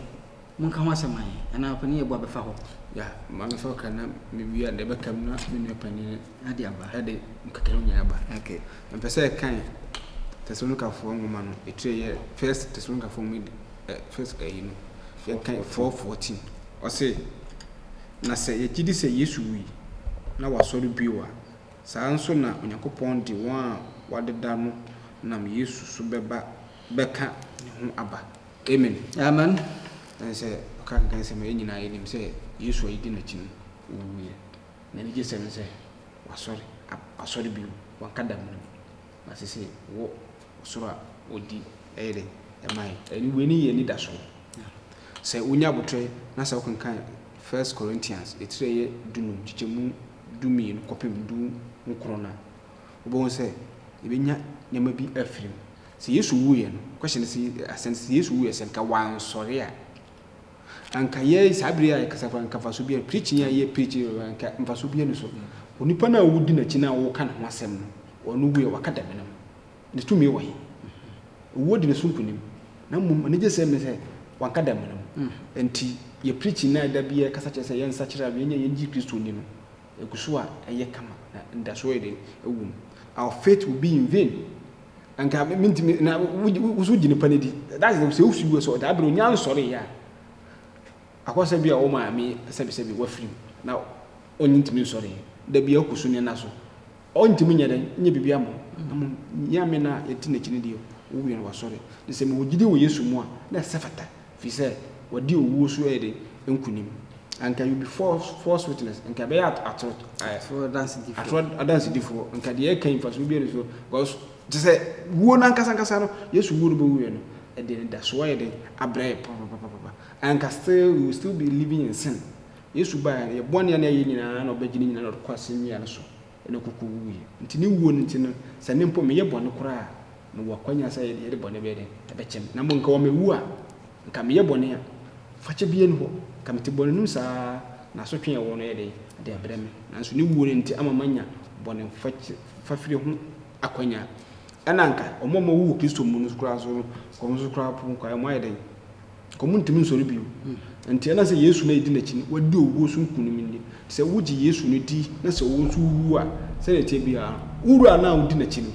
monka ho asɛm ma yɛn anaa ɔpanin yɛboa bɛfa hɔ. Yeah, maame sɛ ɔka na mewie a deɛ ɛbɛka mu na me nua panin Ade aba. Ɛde nkekae nyinaa aba. Okay. Mpɛ sɛ ɛkan Tesalonikafo nwoma no etire yɛ First Tesalonikafo nwoma edi ɛ first ɛyi no. Yɛkan four fourteen. Ɔse na sɛ yɛgye di sɛ Yesu wui na wasɔre bio a, saa ara nso na Onyankopɔn de wɔn a wɔadeda no nam Yesu so bɛba bɛka ne ho aba. Amen. Amen. Ɛne sɛ ɔka kenkan sɛ ma yɛn nyinaa yɛnim sɛ Yesu a yedi n'akyi no owuiɛ. N'anigyesɛm ne sɛ wasɔre aba, wasɔre bio, wanka damena mu, na sese wɔ ɔsoro a ɔdi ɛyɛ dɛ ɛma yɛn. Ɛne wei ne yɛn anidaso no. Sɛ wonya aboterɛ na sɛ wokenkan First Corinthians etire ɛyɛ dunum nkyekyɛmu dummienu kɔpem du nkron no a, wobɛhu sɛ yɛbɛnya nneɛma bi afiri mu. Sɛ Yesu wuiɛ no, question no sɛ, asɛm no sɛ, sɛ Yesu wuiɛ sɛ nka wansɔre a, Anka yɛn saa bere yi a yɛkasa koraa, anka mfaso biara, preaching a yɛ preach no, anka mfaso biara ni so. Onipa no a wudi n'akyi no a woreka ne ho asɛm no, ɔno wui a, waka da menam. Ne tumi wɔ he? Owuo di ne so nkonim. Na mmom anigyesɛm ne sɛ, wanka da menam. Enti yɛ preaching no a da biara yɛkasa kyerɛ sɛ yɛnsakyera na yɛnyɛ yɛn gye Kristo nni no, egu so a, ɛyɛ kama, na anidasoɔ yɛ dɛn? Ɛwom. Our faith will be in vain Anka me mentumi na wo so gye nipa no di that is sɛ wosu wɔ sɛ daa bere onya nsɔre yɛ a akɔsɛ bi a wɔn maame sɛbisɛbi wafiri na ɔnye ntumi nsɔre da bi akɔ su ne na so ɔntumi nyɛ dɛ nyɛ biribi ama ɔmo nyame na yɛte n'akyi ne deɛ wowie no wasɔre ne sɛ mewɔ gyidi wɔ yesu mu a na ɛsɛ fata Efisɛ wadi owuo so de nkonim. Anka you'll be false, false witness, anka ɛbɛyɛ at, atoro, ɛ, Atoro adansedifoɔ. atoro adansedifoɔ, anka deɛ ɛka yi mfasoɔ biara nni so, because te sɛ wuo no ankasa ankasa no, Yesu wuo no bɛwuiɛ no, ɛde anidasoɔ ayɛ dɛn abrɛ yɛn papapapapa, anka still we will still be living in sin. Yesu baeɛ no, yɛn bɔne a na yɛayɛ nyinaa na ɔbɛgye ne nyinaa na ɔde kɔ asɛnnua no so. na ɔkɔkɔ wuiɛ. Nti ne wuo no nti no, sɛ me mpo meyɛ bɔne koraa a, mewɔ akwanya sɛ yɛde bɔne bɛyɛ dɛn? Ɛbɛkyɛ me. Na mmom nka wɔ mewu a, nka meyɛ bɔne a, fakyɛ biara nni hɔ. Nka mete bɔne no mu saa ara, na asotwe a ɛwɔ no yɛ dɛn? Ɛde abrɛ me. Nanso ne wuo no nti ama manya bɔne fafire ho akwanya. Ɛna nka wɔn a wɔwu wɔ Kristo mu no koraa nso no, nka wɔn nso koraa mpo, nka wɔayɛ dɛn? Wɔntumi nsɔre bio. Enti ɛnam sɛ Yesu na yɛdi n'akyi no, wadi owuo so nkonim ni. Sɛ wogye Yesu no di na sɛ wo nso wowu a, sɛdeɛ ɛteɛ biara no, wo Wura no a wodi n'akyi no,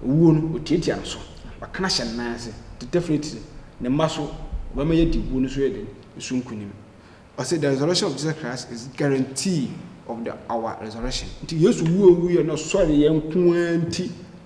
owuo no, ɔtiatia no so. Waka no ahyɛ ne nan ase. Nti definitely, ne mma so, ɔbɛma yɛadi owuo no so yɛ den? So nkonim. Ɔse, the resurrection of Jesus Christ is guarantee of the our resurrection. Nti Yesu wuo a ɔwuiɛ na ɔsɔreeɛ nko ara nti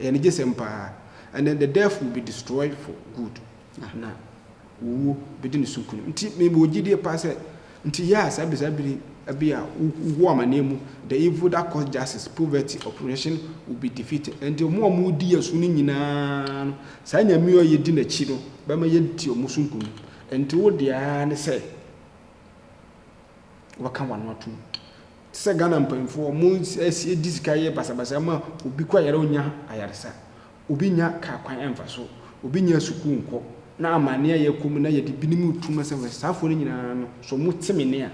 Ɛyɛ anigyesɛm paa. And then the deaf will be destroyed for good, na owuo bɛdi ne so nkunim. Nti me wɔ gyidie paa sɛ, nti yɛ a saa bɛ saa biri bi a wo wɔ amaneɛ mu, the evil that cause justice, poverty, oppression will be defeated. Ɛnti ɔmo a ɔmo di yɛ so no nyinaa no, saa Nyame yi a yɛ di n'akyi no bɛma yɛ di ɔmo so nkunim. Ɛnti wo deɛ ara ne sɛ wobɛka w'ano atom. Te sɛ Ghana mpanyimfo, wɔasie di sika yɛ basabasa ma obi kɔ yare a onnya ayaresa, obi nnya kar kwan mfa so, obi nnya sukuu nkɔ, na amanne a yɛkɔ mu na yɛde binom retu no sɛ hwɛ saafo no nyinaa no so wɔte me nne a,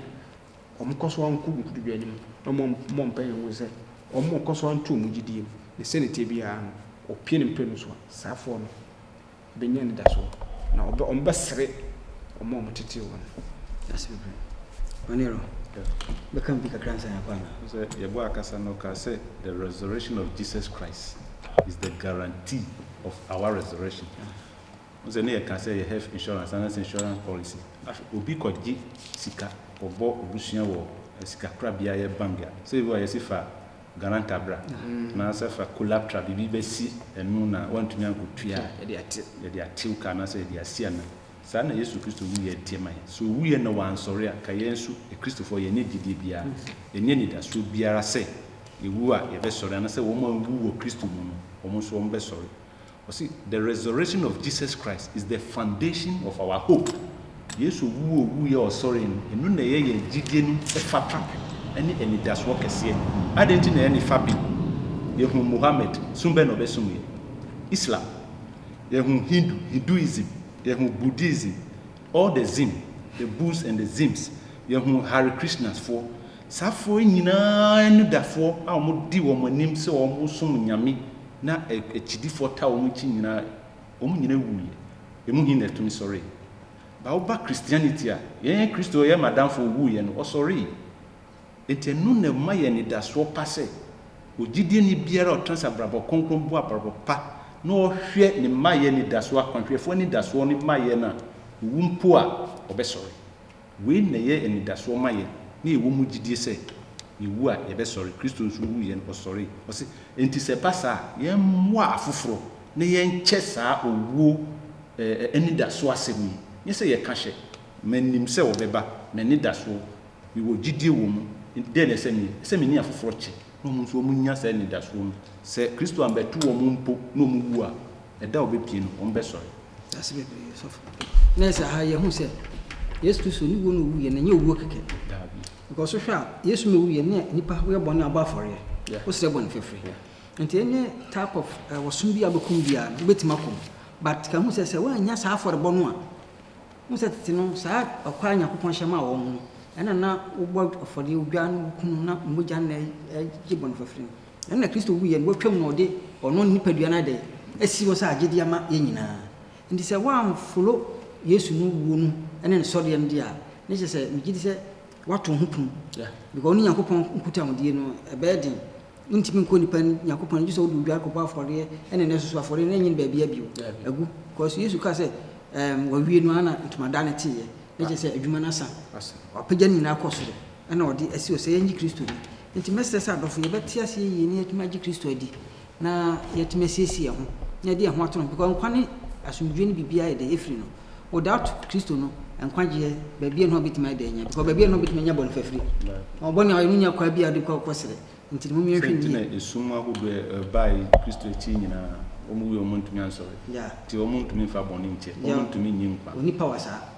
wɔkɔ so ara nko nkotodwe anim na wɔmmɔ mpae nhu sɛ wɔkɔ so ara nto wɔn gyidie mu. Na sɛnea ɛteɛ biara no, wɔpue no mprenu so a, saafoɔ no Bɛnya anidasoɔ, na wɔbɛ, wɔbɛsere wɔn a wɔtetee wɔn. Dase bebree. Ɔnero, bɛka biribi kakra ansa yɛakɔ anaa? Wo sɛ yɛbɔ akasa no, ɔkaa sɛ the resurrection of Jesus Christ is the guarantee of our resurrection. Wo sɛ ne yɛka sɛ yɛ health insurance anaasɛ insurance policy. Afei obi kɔgye sika, kɔbɔ abusua wɔ sikakorabea yɛ bank a, sɛ ebi wɔ a yɛse fa Ghana ntabra anaasɛ fa Colaptra biribi bɛsi ɛno na woantumi ankɔtua a, yɛde atew ka anaasɛ yɛde asi anan. Saa na Yesu Kristo wuiɛ teɛ ma yɛn. Sɛ ɔwuiɛ na wansɔre a, ka yɛn nso Akristofoɔ yɛnyɛ gyedie biara, yɛnyɛ anidasoɔ biara sɛ yɛwu a yɛbɛsɔre anaasɛ wɔn a wɔwu wɔ Kristo mu no, wɔn nso wɔbɛsɔre. Ɔse the resurrection of Jesus Christ is the foundation of our hope. Yesu owu a owuiɛ a ɔsɔree no, eno na ɛyɛ yɛn gyidie no fapra ne anigyasoɔ kɛseɛ. Adɛn nti na yɛne fapem? Yɛhunu Muhammad, som bɛn na ɔbɛsomeɛ? Islam. Yɛhunu Hindu, Hinduism. Yɛhunu Buddhism, all the zim, the Buddhs and the zims. Yɛhunu Hare Krishnas foɔ. Saa foɔ yi nyinaa anidafoɔ a wɔde wɔn anim sɛ wɔsom Nyame Na akyidifoɔ taa wɔn akyi nyinaa, wɔn nyinaa wuiɛ, emu he na ɛtumi sɔree? Ba woba Christianity a, yɛn Kristo a ɔyɛ m'adamfo owuiɛ no, ɔsɔree. Nti ɛno na ɛma yɛn anidasoɔ pa sɛ, ogyidieni biara a ɔtena ase abrabɔ kronkron bɔ abrabɔ pa na ɔhwɛ ne mmaeɛ anidasoɔ, akwanhwɛfoɔ anidasoɔ ne mmaeɛ no a, owu mpo a, ɔbɛsɔre. Wei na ɛyɛ anidasoɔ ma yɛn, na yɛwɔ mu gyidie sɛ, yɛwu a, yɛbɛsɔre. Kristo nso wuu yɛn, ɔsɔree. Ɔse, Enti sɛ ɛba saa a, yɛmmoa afoforɔ na yɛnkyɛ saa owuo anidasoɔ asɛm yi. Nyɛ sɛ yɛka hyɛ, Mennim sɛ ɔbɛba, m'anidasoɔ, mewɔ gyidie wɔ mu, enti dɛn na ɛsɛ meyɛ? Ɛsɛ mene afoforɔ kyɛ, na wɔn nso wɔnya saa anidasoɔ no. Sɛ Kristo ammɛto wɔn mpo na wɔwu a, ɛda a ɔbɛpue no, wɔbɛsɔre. Dase bebree sɔfo. Nurse aha yɛ hu sɛ Yesu Kristo ne wuo na owu yɛ na nyɛ owuo kɛkɛ. Because wohwɛ a Yesu ma owu yɛ ne nipa woyɛ bɔne abɔ afɔreɛ. Wosrɛ bɔne fɛfrɛ. Nti any type of uh, wɔsom bi a wobɛkɔm biara no wobɛtumi akɔm. But ka hu sɛ sɛ woannya saa afɔrebɔ no a hu sɛ tete no saa ɔkwa a Nyankopɔn hyɛ maa wɔn no ɛna na wobɔ afɔreɛ odwa no kunu na mogya no na ɛgye bɔne fɛfrɛ no. Ɛno na Kristo wuiɛ no watwam na ɔde ɔno ne nipadua no adɛ asi hɔ sɛ agyede ama yɛn nyinaa. Nti sɛ woamfolo Yesu no wuo no ne ne sɔreɛ no deɛ a, ne kyerɛ sɛ megye di sɛ woato wo ho pum. Yeah. Because wo ne Nyankopɔn nkutahodie no ɛbɛyɛ den. Wontumi nkɔ nipa anim, Nyankopɔn anim, gye sɛ wode odware kɔbɔ afɔreɛ ɛne ne soso afɔreɛ no ɛnyɛ no baabiara bio. Daabi. Agu. Because Yesu kaa sɛ ɛɛm wawie no ara na ntomadan no teeɛ. Ne kyerɛ sɛ adwuma no asa. Asa. Wapagya ne nyinaa kɔ soro ɛna ɔde asi hɔ sɛ yɛnye Kristo ni. Enti mɛsrɛ sɛ adɔfo, yɛbɛte ase yiye na yɛatumi agye Kristo adi, na yɛatumi asiesie yɛn ho, na yɛde yɛn ho ato no ho, because nkwa ne asomdwoe ne biribiara yɛ dɛ efiri no. Without Kristo no, nkwagyeɛ, baabiara nni hɔ a wobɛtumi ayɛ dɛ anya, because baabiara nni hɔ a wobɛtumi anya bɔnefafiri. Bɔne a ɔyɛ no nnya kwaa biara a wode kɔ kɔ srɛ. Enti no, mommea nhwɛ Sɛ nti na yiye. esum ahodoɔ a ɛbae Kristo akyi nyinaa, wɔn wui a wɔntumi ansɔre, Yeah. enti wɔntumi mfa bɔne nkyɛ, Yeah. wɔntumi nyi nkwa. Onipa wɔ saa.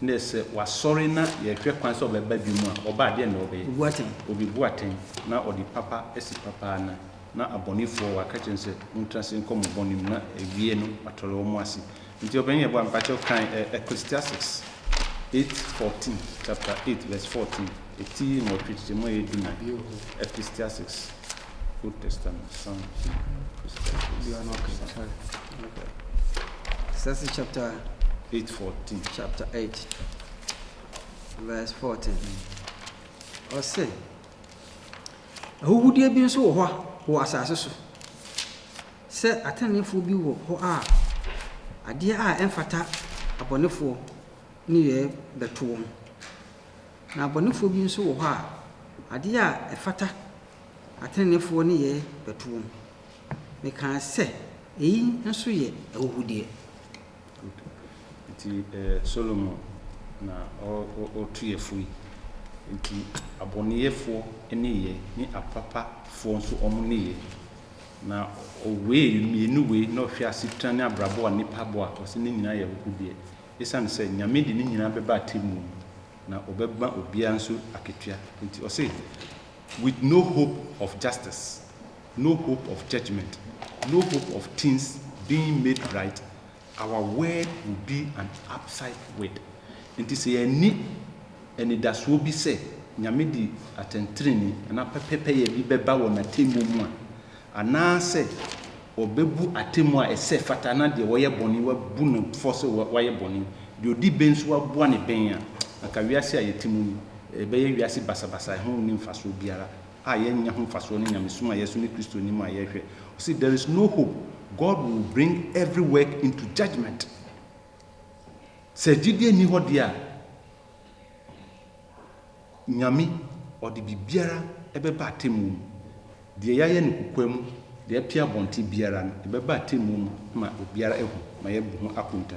Ndɛ sɛ ɔasɔre na yɛhwɛ kwan sɛ ɔbɛba bio mu a, ɔba a, deɛn na ɔbɛyɛ? Obu atɛn. Obebu atɛn, na ɔde papa asi papa anan, na abɔnefoɔ, waka akyerɛ no sɛ, Montena ase nkɔ mo bɔne mu, na awie no, watɔre wɔn ase. Nti ɔpanin yɛboa me, mpakyɛw kan ɛ Ecclesiastes eight fourteen, chapter eight verse fourteen, ti nwɔtwe kyekyɛ mu a ɛyɛ dunan, Ecclesiastes, Old Testament, Psalms, Ecclesiastes, Psalms. Ecclesiastes chapter 8 14. Chapter 8, verse 14. Ɔse, ahuhudeɛ bi nso wɔ hɔ wɔ asase so sɛ ateneneefoɔ bi wɔ hɔ a adeɛ a ɛmfata abɔnefoɔ ne yɛ bɛto wɔn na abɔnefoɔ bi nso wɔ hɔ a adeɛ a ɛfata ateneneefoɔ ne yɛ bɛto wɔn Mekaa sɛ, Eyi nso yɛ ahuhudeɛ. Enti ɛyɛ Solomon na ɔretu yafunu yi. Enti abɔneyɛfoɔ nneyɛɛ ne apapafoɔ nso wɔn nneyɛɛ. Na ɔwee mmienu wei na ɔhwɛɛ asetena ne abrabɔ a nnipa bɔ a, ɔse ne nyinaa yɛ ahuhudeɛ. Esiane sɛ Nyame de ne nyinaa bɛba atemmuo mu, na ɔbɛma obiara nso akatua. Enti ɔse, With no hope of justice. no hope of judgement, no hope of things being made right, our word will be an abside word. Nti sɛ yɛanni anidasoɔ bi sɛ Nyame de atɛntenenee anaa pɛpɛpɛyɛ bi bɛba wɔ N'atemmuo mu a, anaasɛ Ɔbɛbu atemmuo a ɛsɛ fata na deɛ ɔyɛ bɔne wabu no fɔ sɛ wayɛ bɔne, deɛ ɔdi bem nso waboa no bem a, anka wiase a yɛte mu yi, ɛbɛyɛ wiase basabasa a ɛho nni mfasoɔ biara. a yɛnnya ho mfasoɔ ne nyamesom a yɛso ne Kristo nim a yɛhwɛ. Ɔse there is no hope, God will bring every work into judgement. Sɛ gyidie nni hɔ deɛ a, Nyame ɔde biribiara ɛbɛba atemmuo mu. Deɛ yɛayɛ no kokoa mu, deɛ apia abɔnten biara no, ɛbɛba atemmuo mu ma obiara ahu, ma yɛabu ho akonta.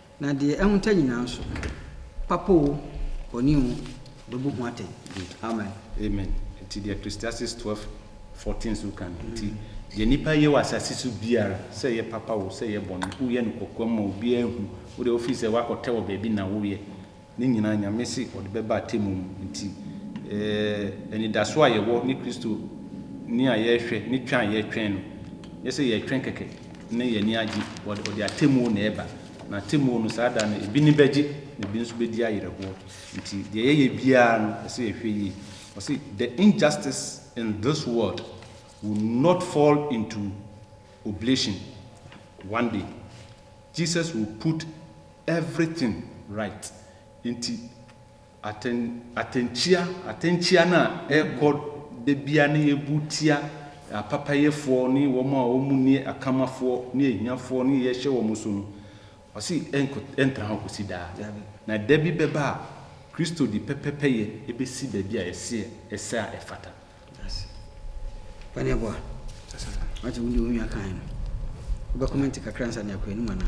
Na deɛ ahunta nyinaa nso, papa o, bɔne o, ɔbɛbu ho atɛn. Amen. Amen. Nti deɛ Christiasis twelve fourteen nso ka no, nti deɛ nnipa yɛ wɔ asase so biara, sɛ ɛyɛ papa o, sɛ ɛyɛ bɔne, woyɛ no kokoam ma obiara nhu, wo deɛ wofii sɛ woakɔtɛ wɔ baabi na woyɛ. Ne nyinaa Nyame se ɔde bɛba atemmu mu. Nti anidaso a yɛwɔ ne Kristo ni a yɛrehwɛ, ne twɛn a yɛretwɛn no, nyɛ sɛ yɛretwɛn kɛkɛ ne yɛn ani agye. Ɔde atemmuo na ɛreba. Na atemmuo no, saa da no, ebi ani bɛgye na ebi nso bɛdi ayerɛhoɔ. Nti deɛ yɛyɛ biara no, ɛsɛ yɛhwɛ yie. Ɔse, The injustice in this world will not fall into oblation one day. Jesus will put Everything right nti atɛn atɛnkyia atɛnkyia no a ɛrekɔ da biara ne yɛbu tia apapayɛfoɔ ne wɔn a wɔn nni akamafoɔ ne ahiafoɔ ne yɛhyɛ wɔn so no ɔse ɛnkɔ ɛntra hɔ kɔsi daa na da bi bɛba a Kristo de pɛpɛpɛyɛ ɛbɛsi baabi a ɛseɛ ɛsɛ a ɛfata. Ase. Pane aboa. Asa. Wate wo de wo nua kan no. Wo bɛ comment kakra ansa ne akɔ anim ana.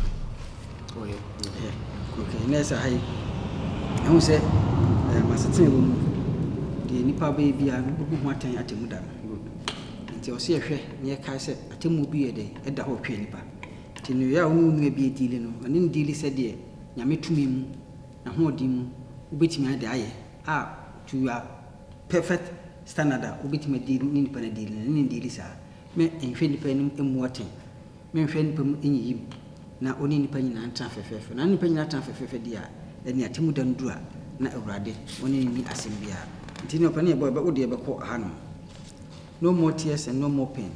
Oh yeah. Yeah. Okay. Na ɛsɛ ha yi. Ɛho sɛ eh, masetena wɔ mu. Deɛ nipa bɛyɛ bi a no bɛbu ho atɛn atemu da no. Good. Nti ɔsɛ yɛhwɛ na yɛkae sɛ atemu bi yɛ dɛ ɛda hɔ twɛ nipa. Nti no yɛ a wo ne wo nua bi adiili no, ɔne no diili sɛ deɛ nyame tumi mu, n'ahoɔden mu, wobɛtumi de ayɛ a to you are Perfect standard a wobɛtumi adi ne nnipa no adi no, ɛno na ɛdi di saa. Me nhwɛ nnipa anim mmu atɛn, me nhwɛ nnipa mu nyiyim, na ɔne nnipa nyinaa ntena fɛfɛɛfɛ. Na ne nnipa nyinaa tena fɛfɛɛfɛ deɛ a, ɛnneɛ atemmu da no duru a, na Awurade, ɔne no nni asɛm biara. Nti ne ɔpɛ no yɛbɔ, yɛbɛ, wo deɛ bɛkɔ hanom. No more tears and no more pain.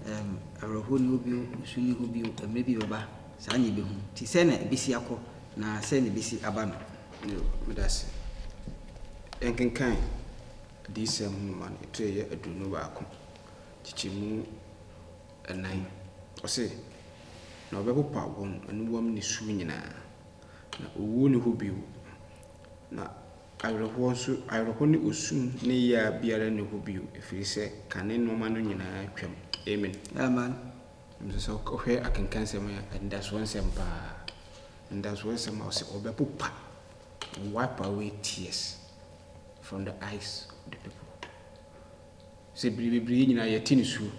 Um, awerɛhoɔ ni hɔ bio, nsu ni hɔ bio, mmerɛ bi bɛba, saa na yɛbɛhu. Nti sɛɛ na ɛbɛsi akɔ, na sɛɛ na ɛbɛsi aba no. Yo, medase. Yɛnkenkan Adiyisɛm nwoma no, ɛto yɛ aduonu baako, nkyekyɛmu nnan. Ɔse, Na wɔbɛpopa wɔn anuwam nisuo nyinaa, na owuo nni hɔ bio, na awerɛhoɔ nso, awerɛhoɔ ne osu ne yea biara nni hɔ bio, ɛfiri sɛ kane nnoɔma no nyinaa atwam. Amen. Amen. Nanso sɛ wohwɛ akenkansɛm a, anidasoɔ nsɛm pa ara. Anidasoɔ nsɛm a ɔse ɔbɛpopa, wipe away tears from the eyes of the people. Sɛ bere bebree yɛn nyinaa yɛte nisuo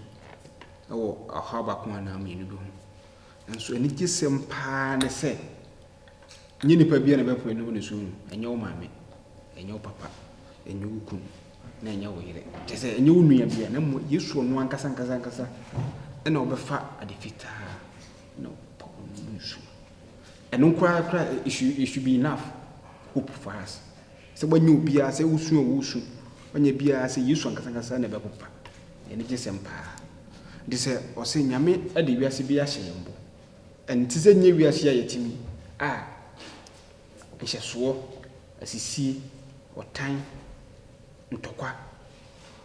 wɔ ɔhaw baako anaa mmienu bi ho. Nanso anigyesɛm pa ara ne sɛ. Nyɛ nnipa biara na ɛbɛpo w'anim ne sum mu, ɛnyɛ wo maame, ɛnyɛ wo papa, ɛnyɛ wo kunu, na ɛnyɛ wo yere. Kyerɛ sɛ, ɛnyɛ wo nua biara, na mmom Yesu ɔno ankasa ankasa ankasa na ɔbɛfa ade fitaa na ɔpa w'anim ne sum. Ɛno koraa koraa, it should, it should be enough hope for us. Sɛ woanyɛ obiara, sɛ wosu a wosu, woanyɛ biara, sɛ Yesu ankasa ankasa na ɛbɛpopa. Yɛn ani gye sɛm paa. Nti sɛ ɔse Nyame de wiase bi ahyɛ yɛn bo, Ɛnte sɛ nea wiase a yɛte mu yi a nhyɛsoɔ, asisie, ɔtan, ntɔkwa,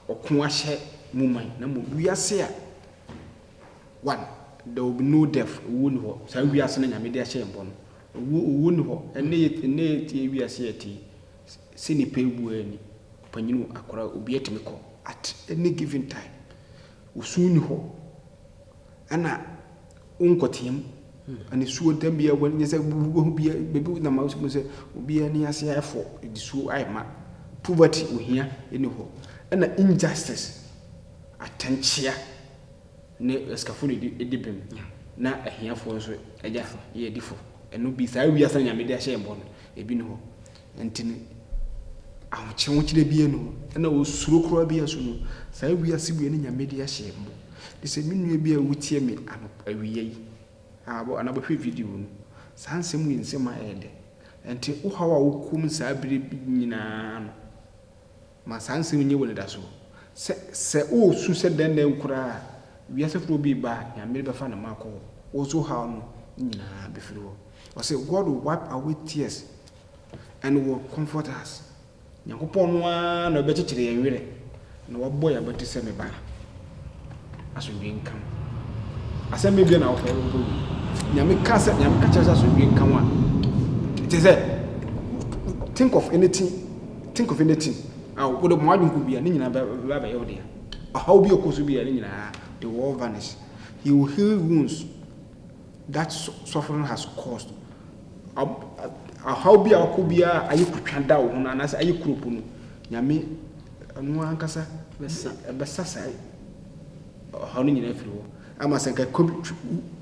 ɔko ahyɛ mu man, na mmom wiase a one, there will be no death, owuo nni hɔ, saa wiase no a Nyame de ahyɛ yɛn bɔ no, owuo, owuo nni hɔ, ɛnnɛ yɛ, ɛnnɛ yɛ, yɛ wiase a yɛte yi, sɛ nipa abu ara ni, ɔpanyin o, akwadaa o, obiara tumi kɔ at any given time. Wo su nni hɔ na wonkɔteam anisuo da biara wɔ nyɛ sɛ wobɛhu biara baabi wo nam a wobɛhu sɛ obiara ani ase ayɛ fɔ nisuo ayɛ ma poverty ohia nni hɔ ɛna injustice atɛnkyea ne asikafo na ɛdi bem na ahiafoɔ nso agya yɛ adifo ɛno bi saa wiase na nyame de ahyɛ yɛn bɔ no ebi nni hɔ Enti no, ahokyehokyerɛ biara nni hɔ, ɛna osuro koraa biara nso no, saa wiase wei ne Nyame de ahyɛ mu. Enti sɛ me nua bi a wotie me anɔpa awia yi, aa, anaa bɛhwɛ video no, saa nsɛm wei nsɛm a ɛyɛ dɛ. Enti wo haw a wokɔ mu saa bere nyinaa no. Ma saa nsɛm yi nyɛ wo anidaso, sɛ, sɛ woresu sɛ dɛn nnɛ koraa a, wiase foforo bi reba a, Nyame de bɛfa ne mma akɔ hɔ. Wo so haw no nyinaa befiri hɔ. Ɔse, God will wipe away tears and will comfort us. Nyankopɔn no ara na ɔbɛkyekyere yɛn werɛ, na wabɔ yɛn abati sɛ, Me ba. Asomdwee nka mo. Asɛm bɛn bio na wopɛ wokɔ wie. Nyame ka sɛ Nyame ka kyerɛ sɛ asomdwee nka mo a it is sɛ think of anything think of anything a wode mo adwene kɔ bia ne nyinaa bɛba abɛyɛ wo dea. Ɔhaw bi a ɛkɔ so bia ne nyinaa they will all vanish. He will heal wounds that suffering has caused. Ɔhaw bi a ɔkɔ biara ayɛ kutwa da wo ho no anaasɛ ayɛ kuropo no Nyame Ɛno ankasa bɛsa ɛbɛsa saa ɔhaw no nyinaa afiri hɔ ama sɛ nka kɔbi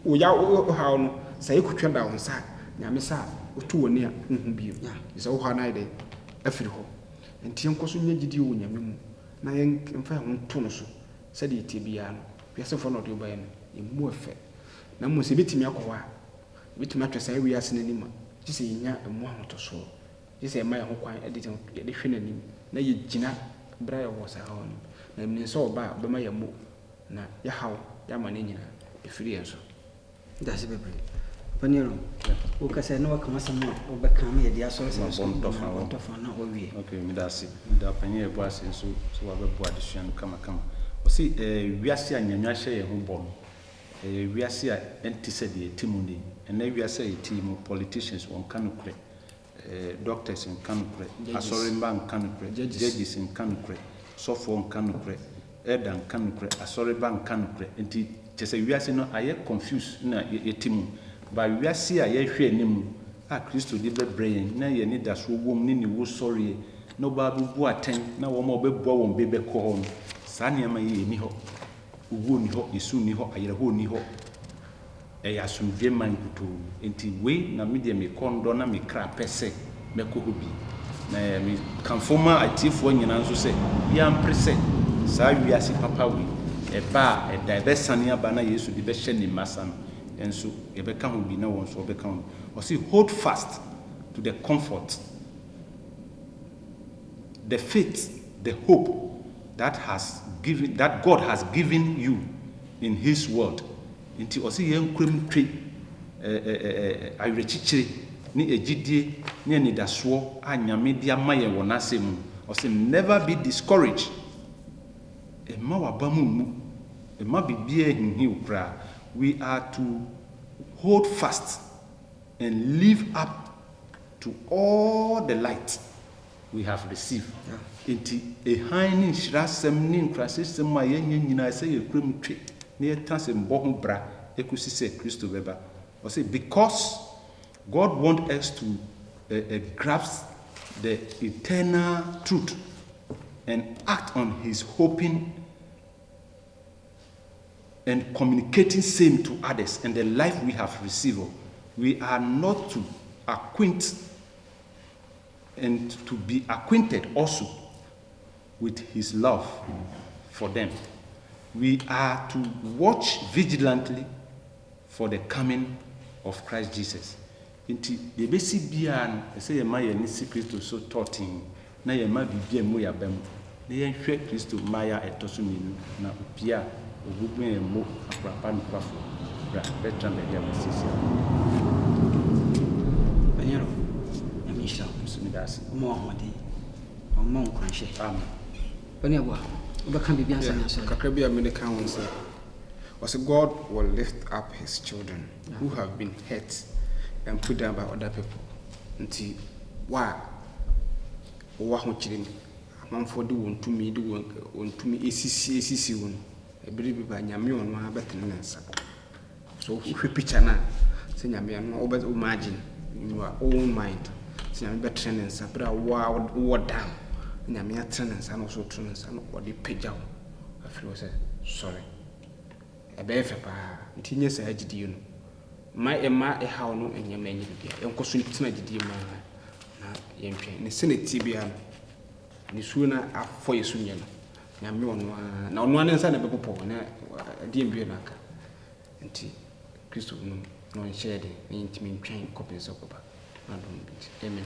wo yaw wo haw no sɛ ɛkɔ twa da wo nsa a Nyame sɛ a woto w'ani a wonhu bio gye sɛ wo haw no ayɛ dɛn afiri hɔ. Nti yɛnkɔ so nya gyidie wɔ Nyame mu na yɛmfa yɛn ho nto no so sɛdeɛ ɛteɛ biara no wiase foforɔ na ɔde wo baeɛ no ɛmmu ɛfɛ na mmom sɛ ɛbɛtumi akɔ hɔ a ɛbɛtumi atwɛ saa wiase no anim a gye sɛ yɛnya ɛmu ahotɔsoɔ Gye sɛ yɛma yɛn ho kwan de yɛde hwɛ n'anim na yegyina bere a yɛwɔ saa haw no mu, na yɛnim sɛ ɔba a, ɔbɛma yɛammɔ hu, na yɛahaw yɛn amane nyinaa afiri yɛn so. Meda ase bebree, Papa Nero. Woka sɛ na waka w'asɛm a wobɛka ama yɛde asɔre sɛ so nyinaa bɔntɔ fa na wawie. Ok, meda ase. Meda Ɔpanyin a Yɛbɔ ase nso sɛ wabɛboa adesua no kamakama. Ɔse ɛyɛ wiase a Nyame ahyɛ yɛn ho bɔ no. Ɛyɛ wiase a ɛnte sɛ deɛ yɛte mu nnɛ yi. Ɛnnɛ wiase a yɛte yi mu, politicians wɔnka nokorɛ. Eh doctors nka nokorɛ, asɔremma nka nokorɛ, judges nka nokorɛ, sɔfoɔ nka nokorɛ, elder nka nokorɛ, asɔreba nka nokorɛ. Nti kyerɛ sɛ wiase no ayɛ confused na yɛte mu. But wiase a yɛrehwɛ anim a Kristo de bɛbrɛ yɛn na yɛn anidasoɔ wɔ mu ne Ne wusɔreɛ na ɔba abɛbu atɛn na wɔn a ɔbɛboa wɔn be bɛkɔ hɔ no, saa nneɛma yi ɛnni hɔ. Owuo nni hɔ, esu nni hɔ, ayerɛhoɔ nni hɔ. Ɛyɛ asomdwoeɛ man nkutoo. Enti wei na me deɛ me kɔn dɔ na me kra pɛ sɛ mɛkɔ hɔ bi. Na me kamfo ma atiefoɔ nyinaa nso sɛ obiara mpere sɛ saa wiase papa wei ɛba a ɛda ɛbɛsane aba na Yesu de bɛhyɛ ne mma sa no nso yɛbɛka ho bi na wɔn nso wɔbɛka ho bi. Ɔse hold fast to the comfort, the faith, the hope that has given, that God has given you in his word Nti ɔse yɛn nkura mu twe awerɛkyikyire ne agyidie ne anidasoɔ a Nyame de ama yɛn wɔ N'asɛm mu. Ɔse never be discouraged, mma w'abam mmu, mma biribiara nhinhim wo koraa, we are to hold fast and live up to all the light. We have received. Enti, hann ne nhyirasɛm ne nkurasesɛm a yɛanya nyinaa, ɛsɛ sɛ yɛkura mu twe na yɛtena ase mmɔ ho bra kosi sɛ Kristo bɛba. Ɔse, Because God wants us to uh, uh, grasp the eternal truth and act on His hoping and communicating same to others and the life we have received, we are not to acquaint and to be acquainted also with His love for them, we are to watch vigilantly for the coming of Christ Jesus. Nti, deɛ ɛbɛsi biara no, ɛsɛ sɛ yɛma yɛn ani si Kristo so tɔɔtee na yɛma biribiara mmu yɛn abam. Na yɛnhwɛ Kristo mmaeɛ a ɛtɔ so mmienu, na opie a ogu gu yɛn mmo akora pa nokwafo, bra, bɛtra baabi a masiesie ama wo no. Panyero, Nyame nhyira wo. Nso meda ase. Ɔmma wo ahoɔden, na ɔmma wo nkuranhyɛ. Amen. Ɔnuaboa, wobɛka biribi ansa Yeah, measɔre? kakra bi a mede ka ho ne sɛ, wɔse God will lift up his children who have been hurt and put down by other people. Nti wo a wowɔ ahokyere mu Amanfoɔ de wɔn tumi de wɔn wɔn tumi esisi esisi wɔn. Ɛbere bi ba Nyame ɔno ara bɛtene ne nsa. So wohwɛ picture no a, sɛ Nyame ano a wobɛ imagine in your own mind sɛ Nyame bɛtene ne nsa bere a wo a wowɔ down. Nyame atene ne nsa na wo so wotene ne nsa na ɔde pagya wo afiri hɔ sɛ sɔre. Ɛbɛyɛ fɛ paa. Nti nyɛ saa gyidie no. Mma mma ɛhaw no nyɛ mma ɛnyɛ biribiara. Yɛnkɔ so ntena gyidie mu ara na yɛntwɛn. Ne sɛdeɛ ɛteɛ biara no, nisuo no afɔ yɛn so nyɛ no. Nyame ɔno ara, na ɔno ara ne nsa na ɛbɛpopɔ, na ɛdeɛn bio na aka? Nti Kristo no na ɔnhyɛɛ den, na yɛntumi ntwɛn kɔpem sɛ ɔbɛba, n'adom nti. Amen.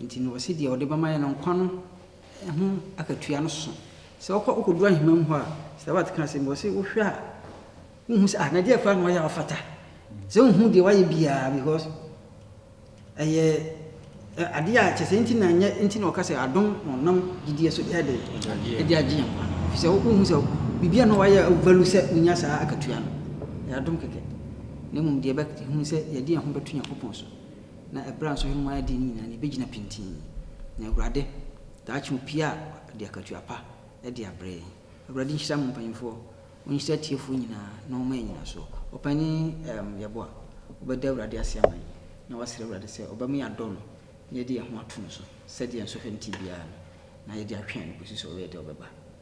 Enti no ɔse deɛ ɔde bɛma yɛn no nkwa no ho akatua no so. Sɛ wokɔ wokɔduru ahema mu hɔ a, Sir Watt kaa asɛm bi, ɔse wohwɛ a wohu sɛ ah na deɛ koraa na wayɛ a ɔfata. Sɛ wohu deɛ wayɛ biara because ɛyɛ adeɛ a kyɛ sɛ nti na nyɛ nti na ɔka sɛ adom na ɔnam gyidie so de ade de agye yɛn nkwa no. Ɛfisɛ wohu sɛ biribiara na wayɛ a wovalu sɛ wonya saa akatua no. Ɛyɛ adom kɛkɛ. Na mmom deɛ yɛbɛhunu sɛ yɛde yɛn ho bɛto Nyankopɔn so. Na ɛberɛ a nso hemmoa no adie no nyinaa no, yɛbɛgyina pintinn, na Awurade, daakye opie a ɔde akatua pa de abrɛ yɛn. Awurade nhyira mo mpaninfoɔ, ɔnhyira atiefoɔ nyinaa na ɔmma yɛn nyinasoɔ. Ɔpanin ɛɛm Yeboah, wobɛda Awurade ase ama yɛn na woasrɛ Awurade sɛ ɔbɛma yɛadɔ no na yɛde yɛn ho ato no so sɛdeɛ nsɔhwɛ no te biara no, na yɛde atwɛn no kɔsi sɛ ɔbɛyɛ dɛ ɔbɛba.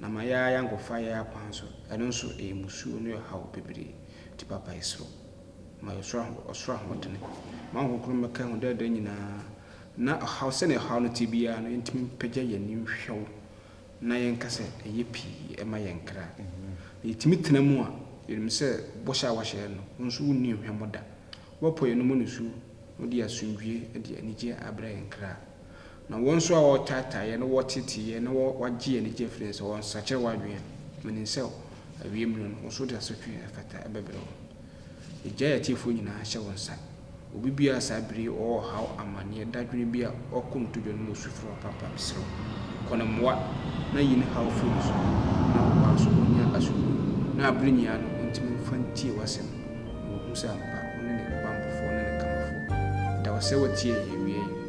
Na ma yɛa yɛankɔfa yɛn akwan so, ɛno nso ɛyɛ mmusuo ne ɔhaw bebree, nti papa yɛserɛw, ma yɛn ɔsoro ɔsoro ahoɔdene, ma wo honhom mmɛka yɛn ho daa daa nyinaa, na ɔhaw sɛnea ɔhaw no teɛ biara no yɛntumi mpagya yɛn ani nhwɛ wo, na yɛnka sɛ, ɛyɛ pii ɛma yɛn nkra, na yɛtumi tena mu a, yɛnim sɛ bɔhyɛ a woahyɛ yɛn no, wo nso wonni nhwɛmmɔ da, woapɔ yɛn anomu nisuo, na wode asomdwie de anigyeɛ abrɛ yɛn nkra. Na wɔn nso a wɔ'retaataa yɛn, na wɔ'reteetee yɛn, na wɔ'agye yɛn anigyeɛ fri yɛn sɛ wɔ'nsakyera w'adwen, menim sɛ awieɛ mmerɛ no, wɔn so de asotwee a ɛfata bɛbrɛ wɔn. Egya yɛ atiefoɔ nyinaa hyɛ wo nsa. Obi biara saa bere yi ɔwɔ ɔhaw, amaneɛ, dadwene bi a, ɔkɔ no todwa no mu su frɛ wo papa, mesrɛ wo, kɔ no mmoa, na yi ne haw fri no so, na ɔbaa nso ɔnnya asodie, na abere nyinaa no ɔntumi mfa ntie w'asɛm, na wahu sɛ ampa wone ne banbɔfoɔ ne ne kanbafoɔ. Yɛda wo sɛ woatie yɛn awieɛ yi.